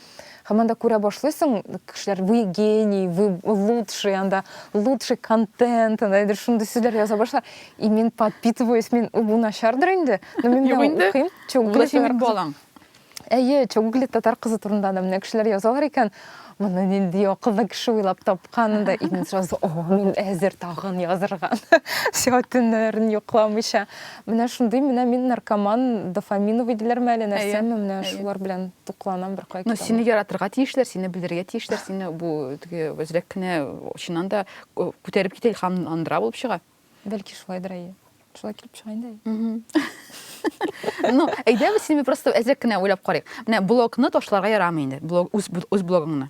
Һәм анда күрә башлыйсың, кешеләр, вы гений, вы лучший, анда лучший контент, анда әйдер шундый сүзләр яза башлар. И мин подпитываюсь, мин бу начардыр инде. Но мин менә укыйм. Чугли синең балаң. Әйе, Чугли татар кызы турында да менә кешеләр язалар икән. Моны нинди акыллы кеше уйлап тапкан да, и мин сразу, о, мин әзер тагын язырга. Сәгатеннәрен йокламыйча. Менә шундый, менә мин наркоман, дофаминовый диләрме әле, нәрсәме, менә шулар белән тукланам беркая китә. Ну, сине яратырга тиешләр, сине белергә тиешләр, сине бу теге үзрәк кенә чыннан да күтәреп китә илһамландыра булып чыга. Бәлки шулайдыр, әйе. Шулай килеп чыга инде, әйе. Ну, әйдәгез, сине просто әзрәк кенә уйлап карыйк. Менә блогны ташларга ярамый инде, блог, үз блогыңны.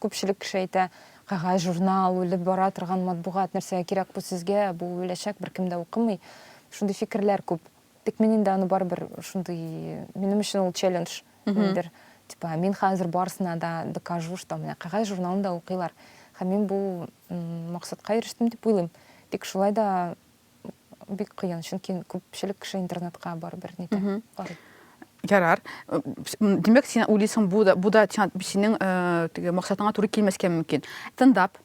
Күпчелек кеше әйтә, кәгазь, журнал, үлеп бара торган матбугат, нәрсәгә кирәк бу сезгә, бу үләчәк, беркем дә укымый. Шундый фикерләр күп. Тик мин инде аны барыбер шундый, минем өчен ул челлендж. Нидер, типа, мин хәзер барысына да докажу, что менә кәгазь журналын да укыйлар. Һәм мин бу максатка ирештем дип уйлыйм. Тик шулай да бик кыен чөнки күпчелек кеше интернетка барыбер нитә карый ярар димәк син уйлыйсың бу да бу да синең теге максатыңа туры килмәскә мөмкин стендап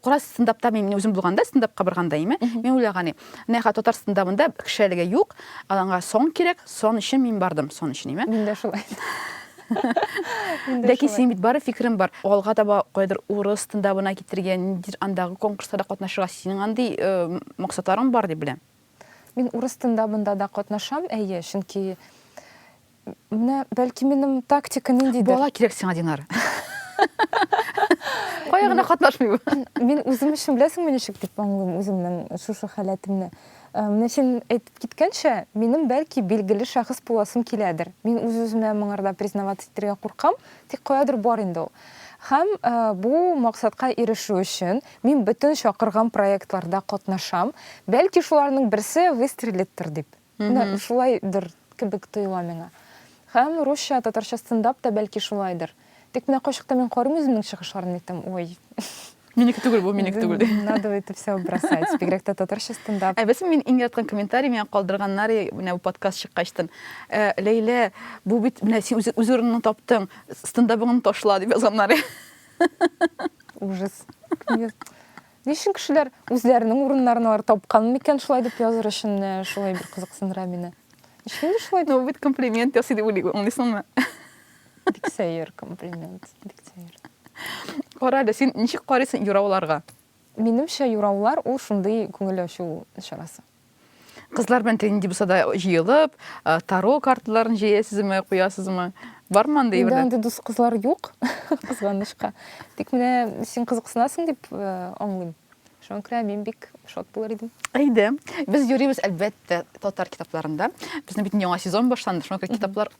кара стендапта мин үзем булганда стендапка барганда име мин уйлаган идем менә татар стендабында кеше әлегә юк аланга сон кирәк сон өчен мин бардым сон өчен име мин дә шулай Ләкин син бит бары фикерем бар. Алга таба кайдыр урыс тындабына китергә, ниндидер андагы конкурсларда катнашырга синең андый э, максатларың бар дип беләм. Мин урыс тындабында да катнашам, әйе, чөнки менә бәлки минем тактика ниндидер. Бала кирәк сиңа, Динар. Кая гына катнашмый бу. Мин үзем өчен беләсеңме ничек дип аңлыйм үземнең шушы халәтемне. Менә син әйтеп киткәнчә, минем, бәлки, билгеле шәхес буласым киләдер. Мин үз-үземә моңарда признаваться итәргә куркам, тик каядыр бар инде ул. Һәм бу максатка ирешү өчен мин бөтен чакырган проектларда катнашам. Бәлки, шуларның берсе выстрелиттер дип. Менә шулайдыр кебек тоела миңа. Һәм русча, татарча стендап та, бәлки, шулайдыр. Тик менә кайчакта мин карыйм үземнең чыгышларымны әйтәм, ой. Минеке түгел бу, минеке түгел. Надо это все бросать. Бигрәк тә татарча стендап. Ә белсен мин иң яраткан комментарий миңа калдырганнар менә бу подкаст чыккачтан. Э, Ләйлә, бу бит менә син үз, үз урыныңны таптың, стендабыңны ташла дип язганнар. Ужас. Ни өчен кешеләр үзләренең урыннарын алар тапкан микән шулай дип языр өчен э, шулай бер кызыксындыра мине. Ничек инде шулай? Ну, бит комплимент ясый дип уйлыйм, аңлыйсыңмы? Бик сәер комплимент, бик сәер. Кара әле, син ничек карыйсың юрауларга? Минемчә, юраулар ул шундый күңел ачу чарасы. Кызлар белән тел нинди булса да җыелып, э, таро карталарын җәясезме, куясызмы? Бармы андый Инде бер? андый дус кызлар юк, кызганычка. Тик менә син кызыксынасың дип э, аңлыйм. Шуңа күрә мин бик шат булыр идем. Әйдә. Без йөрибез, әлбәттә, татар китапларында. Безнең бит яңа сезон башланды, шуңа күрә китаплар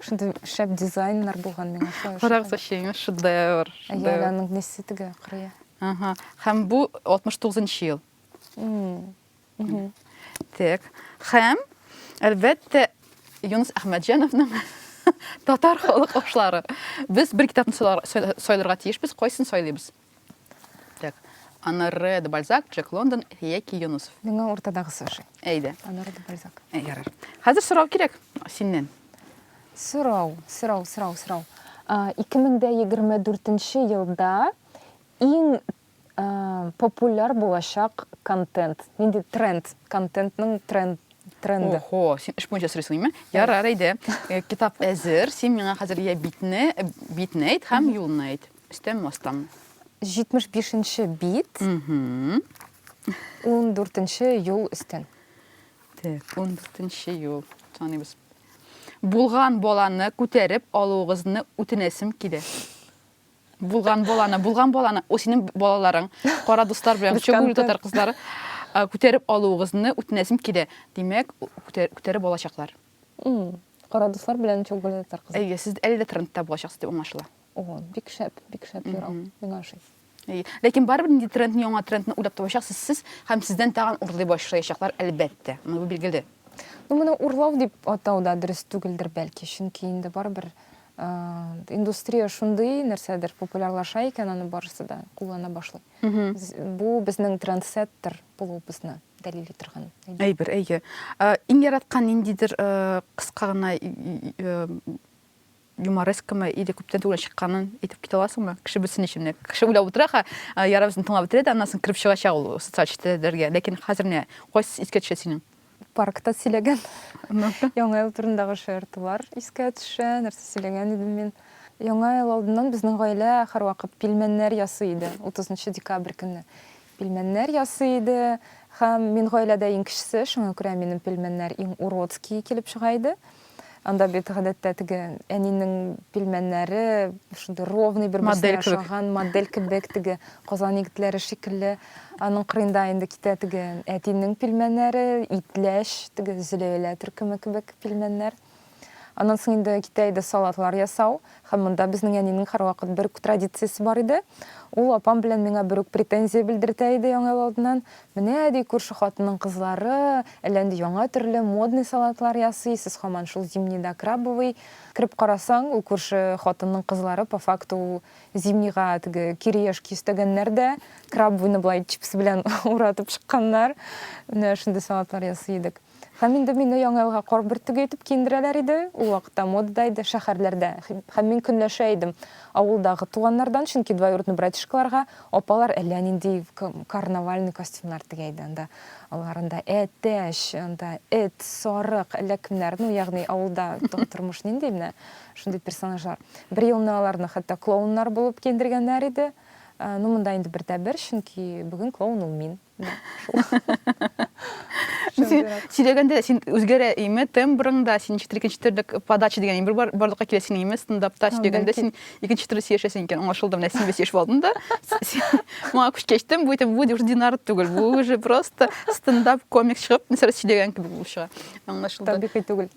Шундый шәп дизайннар булган миңа шулай ошый. Карагыз, әчегеңә шедевр. Әйе, аның несе теге кырые. Ага. Һәм бу 69 ел. Так. Һәм әлбәттә Юнус Әхмәтҗановның татар халык ашлары. Без бер китапны сайларга тиешбез, кайсын сайлыйбыз? Так, Анары де Бальзак, Джек Лондон яки Юнусов. Миңа уртадагысы ошый. Әйдә. Анары де Бальзак. Ә, ярар. Хәзер сорау кирәк синнән. Сорау, сорау, сорау, сорау. 2024 елда иң популяр булачак контент. Нинди тренд, контентның тренд тренды. Охо, син эш буенча сорыйсың име? Ярар, әйдә. Э, китап әзер, син миңа хәзер я битне, битне әйт һәм юлны әйт. Өстән мастан. 75 нче бит. Угу. 14 нче юл өстән. Так, 14 нче юл. Таныйбыз. Булган баланы күтәреп алуыгызны үтенәсем килә. Булган баланы, булган баланы, о синең балаларың, кара дуслар белән Без чөгүл контент. татар кызлары а, күтәреп алуыгызны үтенәсем килә. Димәк, күтәр- күтәреп алачаклар. М, Кара дуслар белән чугүле татар кызы. Әйе, сез әле дә трендта булачаксыз дип аңлашыла. О, бик шәп, бик шәп юрау. Мгм. Миңа ошый. Әйе. Ләкин барыбер нинди трендны, яңа трендны уйлап табачаксыз сез һәм сездән тагын урлый башлаячаклар, әлбәттә. Моны бу билгеле. Ну, моны урлау дип атау да дөрес түгелдер, бәлки, чөнки инде барыбер а, индустрия шундый нәрсәдер популярлаша икән, аны барысы да куллана башлый. Мгм. З- Бу безнең трендсеттер булуыбызны дәлил итергән. әйбер. Әйбер, әйе. Ә, Иң яраткан ниндидер э, кыска гына и- и- э, юморескамы или күптән түгел чыкканын әйтеп китә аласыңмы кеше белсен өчен менә кеше уйлап утыра ха ярабызны тыңлап бетерә дә аннан соң кереп чыга чак ул социаль челтәрләргә ләкин хәзер менә кайсы искә төшә синең паркта сөйләгән яңа ел турындагы шаяртулар искә төшә нәрсә сөйләгән идем мин яңа ел алдыннан безнең гаилә һәрвакыт пилмәннәр ясый иде утызынчы декабрь көнне Пилмәннәр ясый иде һәм мин гаиләдә иң кечесе, шуңа күрә минем пилмәннәр иң уродские килеп чыга иде. Анда бит гадәттә теге әнинең пилмәннәре шундый ровный бер-берсенә ошаган, модель кебек, теге Казан егетләре шикелле. Аның кырыенда инде китә теге әтинең пилмәннәре, итләч, теге Зөләйлә төркеме кебек пилмәннәр. Аннан соң инде китә иде салатлар ясау. Һәм монда безнең әнинең һәрвакыт бер үк традициясе бар иде. Ул апам белән миңа бер үк претензия белдертә иде яңа ел алдыннан. Менә, ди, күрше хатынның кызлары әллә нинди яңа төрле модный салатлар ясый, сез һаман шул зимний да крабовый. Кереп карасаң, ул күрше хатынның кызлары по факту ул зимнийга теге кириешки өстәгәннәр дә, крабовыйны болай чипс белән уратып чыкканнар. Менә шундый салатлар ясый идек. Һәм инде мине Яңа елга кар бөртеге итеп киендерәләр иде. Ул вакытта модада иде, шәһәрләрдә. Һәм мин көнләшә идем авылдагы туганнардан, чөнки двоюродный братишкаларга апалар әллә нинди карнавальный костюмнар тегә иде. Анда алар анда әтәч, анда эт, сарык, әллә кемнәр, ну, ягъни авылда тормыш нинди менә шундый персонажлар. Бер елны аларны хәтта клоуннар булып киендергәннәр иде. Ну, монда инде бер дә бер, чөнки бүген клоун ул мин. сөйләгәндә син үзгәрә име тембрың да син ничектер икенче төрлек подача дигән бер барлыкка килә синең име стендапта сөйләгәндә син икенче төрле сөйләшәсең икән аңлашылды менә син сөйләшеп алдың да моңа күчкәч кичтем бу бу уже динар түгел бу уже просто стендап комик чыгып нәрсә сөйләгән кебек булып чыга аңлашылды табигый түгел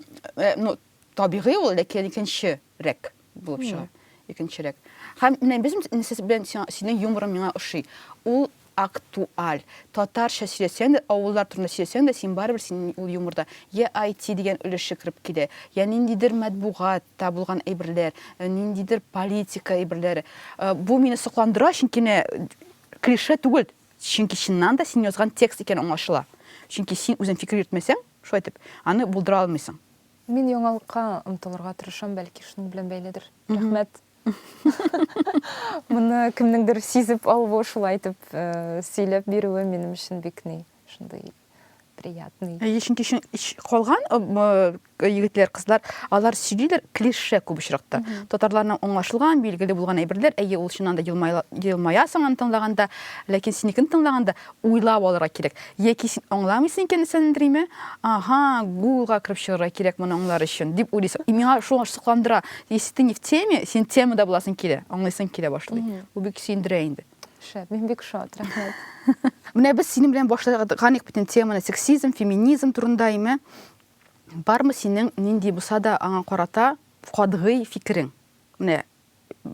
ну Табигый ул, ләкин икенче рәк булып чыга. Икенче рәк. Һәм менә без сез белән синең юморың миңа ошый. Ул актуаль. Татарча сөйләсәң дә, авыллар турында сөйләсәң дә, син барыбер син ул юморда я IT дигән өлеше кереп килә, я ниндидер матбугатта булган әйберләр, э, ниндидер политика әйберләре. Э, бу мине сокландыра, чөнки менә клише түгел, чөнки чыннан да син язган текст икән аңлашыла. Чөнки син үзең фикер йөртмәсәң, шулай итеп, аны булдыра алмыйсың. Мин яңалыкка омтылырга тырышам, бәлки шуның белән бәйледер. Рәхмәт. Моны кемнеңдер сизеп алуы, шулай итеп э, сөйләп бирүе минем өчен бик ни, шундый приятный. Әйе, чөнки чын- ч- калган э, м, э, егетләр, кызлар, алар сөйлиләр клише күп очракта. Татарларның аңлашылган, билгеле булган әйберләр, әйе, ул чыннан да елмая- елмаясың аны тыңлаганда, ләкин синекен тыңлаганда, Уйлап алырга кирәк. Яки син аңламыйсың икән Эсендриме? Ага, гуглга кереп чыгарга кирәк моны аңлар өчен, дип уйлыйсың. И миңа шул сокландыра. Если ты не в теме, син темада буласың килә, аңлыйсың килә башлый. Бу бик сөендерә инде. Шәп, мин бик шат, рәхмәт. Менә без синең белән башлаганык бит инде теманы, сексизм, феминизм турында име? Бармы синең нинди булса да аңа карата катгый фикерең? Менә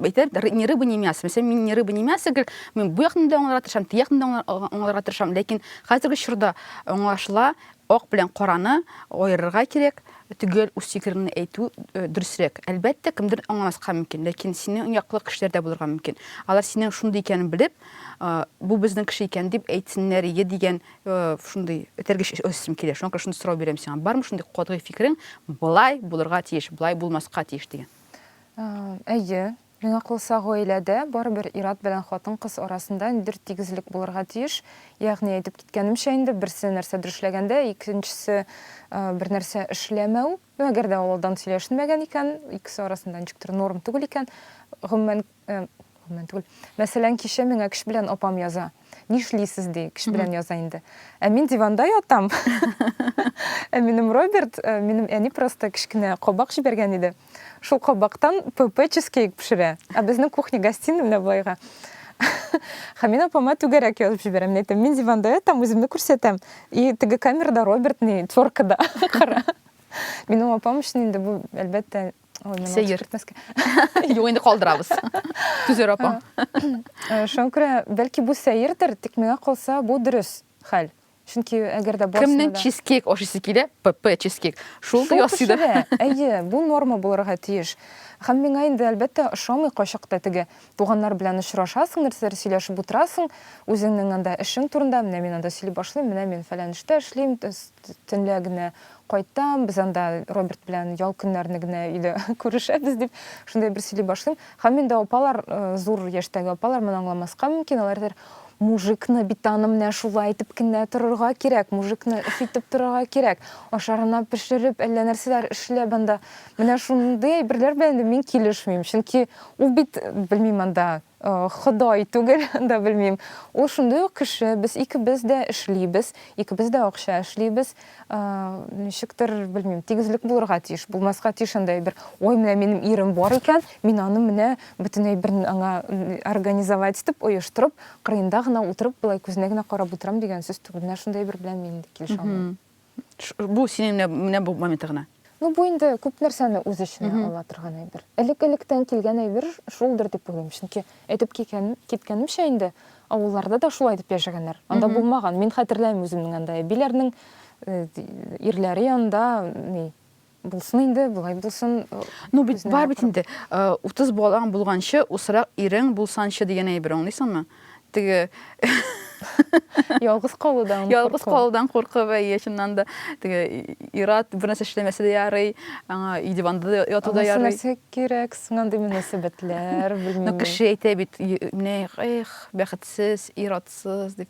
әйтер, ни рыба, ни мясо. Мәсәлән, мин ни рыба, ни мясо гел, мин бу якны да аңларга тырышам, ти якны да аңларга тырышам, ләкин хәзерге чорда аңлашыла, ак белән караны аерырга кирәк, төгәл үз фикереңне әйтү э, дөресрәк. Әлбәттә, кемдер аңламаска мөмкин, ләкин синең яклы кешеләр дә булырга мөмкин. Алар синең шундый икәнен белеп, э, бу безнең кеше икән дип әйтсеннәр иде дигән э, шундый этәргеч өстем килә. Шуңа күрә шундый сорау бирәм сиңа. Бармы шундый катгый фикерең, былай булырга тиеш, былай булмаска тиеш дигән? Әйе, миңа калса, гаиләдә барыбер ир-ат белән хатын-кыз арасында ниндидер тигезлек булырга тиеш. Ягъни, әйтеп киткәнемчә инде, берсе нәрсәдер эшләгәндә, икенчесе бернәрсә эшләмәү. Ну, әгәр дә ул алдан сөйләшенмәгән икән, икесе арасында ничектер норм түгел икән, гомумән, гомумән түгел. Мәсәлән, кичә миңа кич белән апам яза. нишлисез ди кеше белән яза инде ә мин диванда ятам ә минем роберт э, минем әни просто кечкенә кабак җибәргән иде шул кабактан пп чизкейк пешерә ә безнең кухня гостиный менә былайга һәм мин апама түгәрәк язып җибәрәм мин әйтәм мин диванда ятам үземне күрсәтәм и теге камерада роберт ни теркада кара минем апам өчен инде бу әлбәттә сәер юк инде калдырабыз түзәр апа шуңа күрә бәлки бу сәердер тик миңа калса бу дөрес хәл чөнки әгәр дә кемнең чизкейк ашыйсы килә пп чизкейк шул да ясый да әйе бу норма булырга тиеш һәм миңа инде әлбәттә ошамый кайчакта теге туганнар белән очрашасың нәрсәләр сөйләшеп утырасың үзеңнең анда эшең турында менә мин анда сөйли башлыйм менә мин фәлән эштә эшлим төнлә генә Кайтам, без анда Роберт белән ял көннәрне генә өйдә күрешәбез, дип, шундый бер сөйли башлыйм. Һәм инде апалар, зур яшьтәге апалар моны аңламаска мөмкин, алар әйтәләр, Мужикны бит аны менә шулай итеп кенә торырга кирәк, мужикны өфитеп торырга кирәк, ашарына пешереп, әллә нәрсәләр эшләп анда. Менә шундый әйберләр белән инде мин килешмим, чөнки ул бит, белмим, анда Ходай түгел, анда белмим. Ул шундый ук кеше, без икебез дә эшлибез, икебез дә акча эшлибез. Ничектер, белмим, тигезлек булырга тиеш, булмаска тиеш андый әйбер. Ой, менә минем ирем бар икән, мин аны менә бөтен әйберен аңа организовать итеп, оештырып, кырыенда гына утырып, болай күзенә генә карап утырам дигән сүз түгел. Менә шундый әйбер белән мин дә килешә алмыйм. Бу синең менә менә бу моменты гына. Ну бу инде күп нәрсәне үз эченә ала торган әйбер. Элек-электән килгән әйбер шулдыр дип уйлыйм. Чөнки әйтеп киткән, киткәнемчә инде, авылларда да шулай дип яшәгәннәр. Анда булмаган. Мин хәтерләмим үземнең анда әбиләрнең ирләре янында ни Булсын инде, болай булсын. Ну бит бар бит инде. 30 балаң булганчы, усрак ирең булсанчы дигән әйбер аңлыйсыңмы? Теге Ялгыз калудан. Ялгыз калудан куркып, әйе, чыннан да. Теге ират бер нәрсә эшләмәсә дә ярый, аңа өй диванда яту да ярый. Нәрсә кирәк соң андый мөнәсәбәтләр, белмим. Ну кеше әйтә бит, менә эх, бәхетсез, иратсыз дип.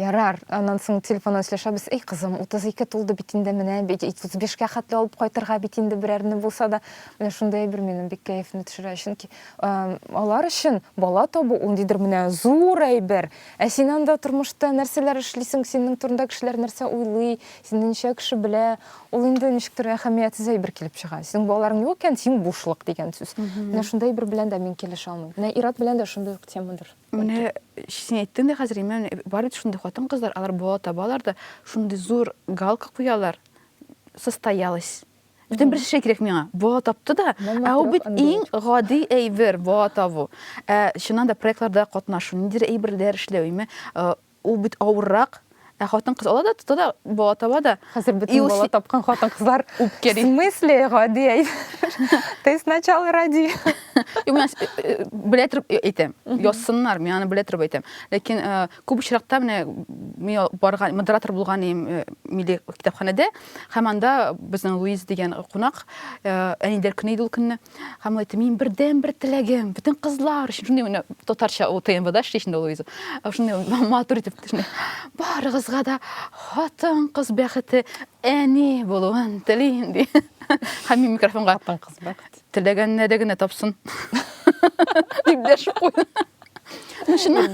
Ярар, аннан соң телефоннан сөйләшәбез, Әй, кызым, 32 тулды бит инде, менә бит 35 кә хәтле алып кайтырга бит инде берәрне булса да. Менә шундый әйбер минем бик кәефемне төшерә. Чөнки алар өчен бала табу ул ниндидер менә зур әйбер. Ә син анда тормышта нәрсәләр эшлисең, синең турында кешеләр нәрсә уйлый, сине ничә кеше белә, ул инде ничектер әһәмиятсез әйбер килеп чыга. Синең балаларың юк икән, син бушлык дигән сүз. Менә шундый әйбер белән дә мин килешә алмыйм. Менә ир-ат белән дә шундый ук темадыр. Менә син әйттең дә хәзер, имән, бар бит шундый хатын-кызлар, алар бала табалар да, шундый зур галка куялар, состоялась. Бүтән бер шәй кирәк миңа. Бала тапты да, ә ул бит иң гади әйбер, бала табу. Ә чыннан да проектларда катнашу, ниндидер әйберләр эшләү, име, Ул бит авыррак. Ә хатын-кыз ала да, тота да, бала таба да. Хәзер бөтен бала тапкан хатын-кызлар үпкәли. В смысле, гади әй. Ты сначала ради. Юк, мин э, белә торып э, әйтәм. Язсыннар, мин аны белә торып әйтәм. Ләкин э, күп очракта менә мин барган модератор булган идем милли китапханәдә. Һәм анда безнең Луиз дигән кунак әниләр көне иде ул көнне. Һәм ул әйтте, минем бердән бер теләгем, бөтен кызлар өчен шундый менә татарча ул ТМБда эшли шунда Луиза. Шундый матур итеп төшенә. Барыгызга да хатын кыз бәхете әни булуын телим ди. Һәм мин микрофонга хатын кыз бәхет. Теләгәнне дә генә тапсын. Дип дәшеп куйды. Ну шуны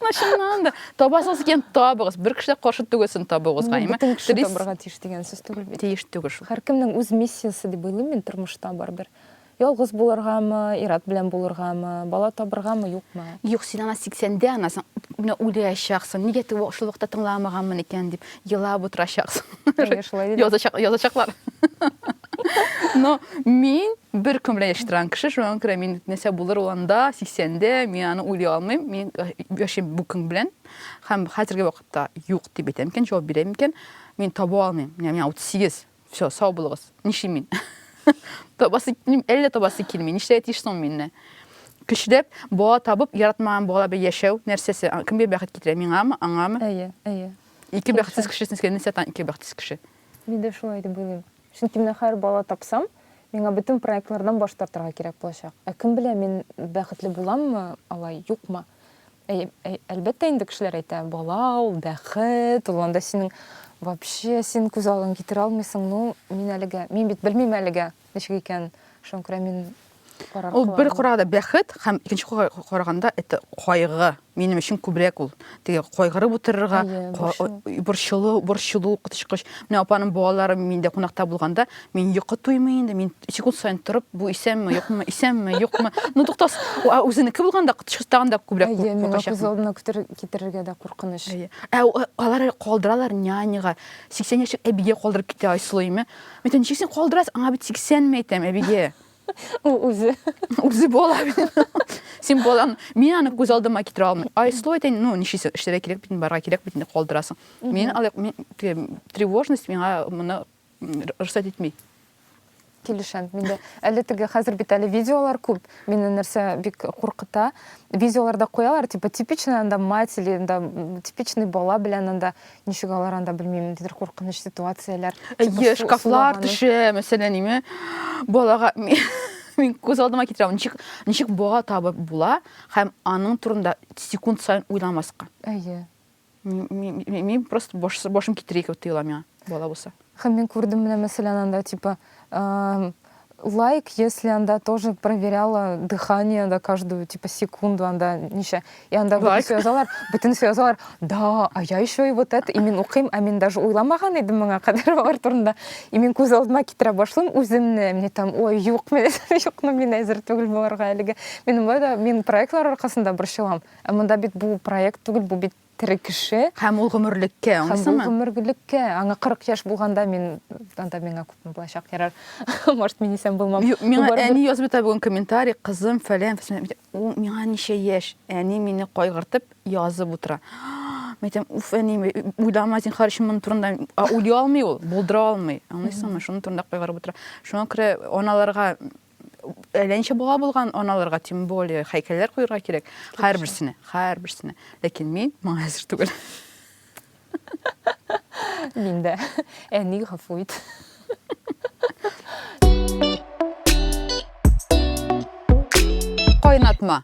Ана чыннан да табасыз икән табыгыз. Бер кеше дә каршы түгелсен табыгыз, гайме? Бөтен кеше табырга тиеш дигән сүз түгел бит. Тиеш түгел шул. Һәркемнең үз миссиясе дип уйлыйм мин тормышта барыбер. Ялгыз булыргамы, ират белән булыргамы, бала табыргамы, юкмы? Юк, син ана 80-дә анасың, менә үләчәксең. Нигә тик шул вакытта тыңламаганмын икән дип елап утырачаксың. Язачак, язачаклар. Но мин Бер көн белән яши торган кеше, шуңа күрә мин нәрсә булыр ул анда, 80-дә, мин аны уйлый алмыйм. Мин э, яшим бу көн белән һәм хәзерге вакытта юк дип әйтәм икән, җавап бирәм икән, мин таба алмыйм. Менә миңа 38. Все, сау булыгыз. Нишим мин? табасы, әллә табасы килми. Нишләргә тиеш соң мине? Көчләп, бала табып, яратмаган бала белән яшәү нәрсәсе? Кемгә бәхет китерә? Миңамы, аңамы? Әйе, әйе. Ике бәхетсез кешесен сезгә нәрсә ата ике бәхетсез кеше? Мин дә шулай дип уйлыйм. Чөнки менә хәер бала тапсам, миңа бөтен проектлардан баш тартырга кирәк булачак. Ә кем белә, мин бәхетле буламмы алай, юкмы? Әй, әй, әлбәттә инде кешеләр әйтә, бала ул, бәхет, ул анда синең, вообще син күз алдың китерә алмыйсың, ну, мин әлегә, мин бит белмим әлегә, ничек икәнен, шуңа күрә мин Ул бер караганда бәхет һәм икенче караганда это кайгы. Минем өчен күбрәк ул. Теге кайгырып утырырга, борчылу, борчылу котышкыч. Менә апаның балалары миндә кунакта булганда, мин йокы туймый инде, мин секунд саен торып, бу исәнме, юкмы, исәнме, юкмы. Ну туктас, а үзенеке булганда котышкыч тагын да күбрәк куркачак. Күз алдына китерергә дә куркыныч. Ә алар калдыралар няняга. 80 яшьлек әбигә калдырып китә Айсылу име. Мин ничек син калдырасың? Аңа бит 80 ме әйтәм, әбигә. Ул үзе. Үзе була. Син булам. Мин аны күз алдыма китерә алмыйм. Ай, слой дин, ну, ничесе эшләргә кирәк бит, барга кирәк бит, калдырасың. Мин алай тревожность миңа моны рөхсәт итми. Килешәм. Мин дә әле теге хәзер бит әле видеолар күп. Мине нәрсә бик куркыта. Видеоларда куялар, типа типичный анда мать или анда типичный бала белән анда ничек алар анда белмим ниндидер куркыныч ситуацияләр әйе шкафлар төшә мәсәлән име балага мин күз алдыма китерәм ничек ничек бала табып була һәм аның турында секунд сайын уйламаска әйе мин просто башым китерә икәү тыела миңа бала булса Һәм мин күрдем менә мәсәлән анда типа лайк если анда тоже проверяла дыхание анда каждую типа секунду анда ничә и анда бөтенесе язалар бөтенесе язалар да а я еще и вот это и мин укыйм ә мин даже уйламаган идем моңа кадәр алар турында и мин күз алдыма китерә башлыйм үземне мне там ой юк мен юкны мин әзер түгел боларга әлеге мин болай да мин проектлар аркасында борчылам ә монда бит бу проект түгел бу бит тере кеше. Һәм ул гомерлеккә, аңлыйсыңмы? Һәм ул гомерлеккә. Аңа 40 яшь булганда мин, анда миңа күпме булачак, ярар, может, мин исән булмам. Юк, миңа әни язып ята бүген комментарий, кызым, фәлән, фәсән. Ул миңа ничә яшь? Әни мине кайгыртып язып утыра. Мин әйтәм, уф, әни, уйлама, зинхар, өчен моның турында. Ә уйлый алмый ул, булдыра алмый. Аңлыйсыңмы? Шуның турында кайгырып утыра. Шуңа күрә аналарга әлләнчә бала булган аналарга тем более һәйкәлләр куярга кирәк һәрберсенә һәрберсенә ләкин мин моңа әзер түгел мин дә әни гафу ит кайнатма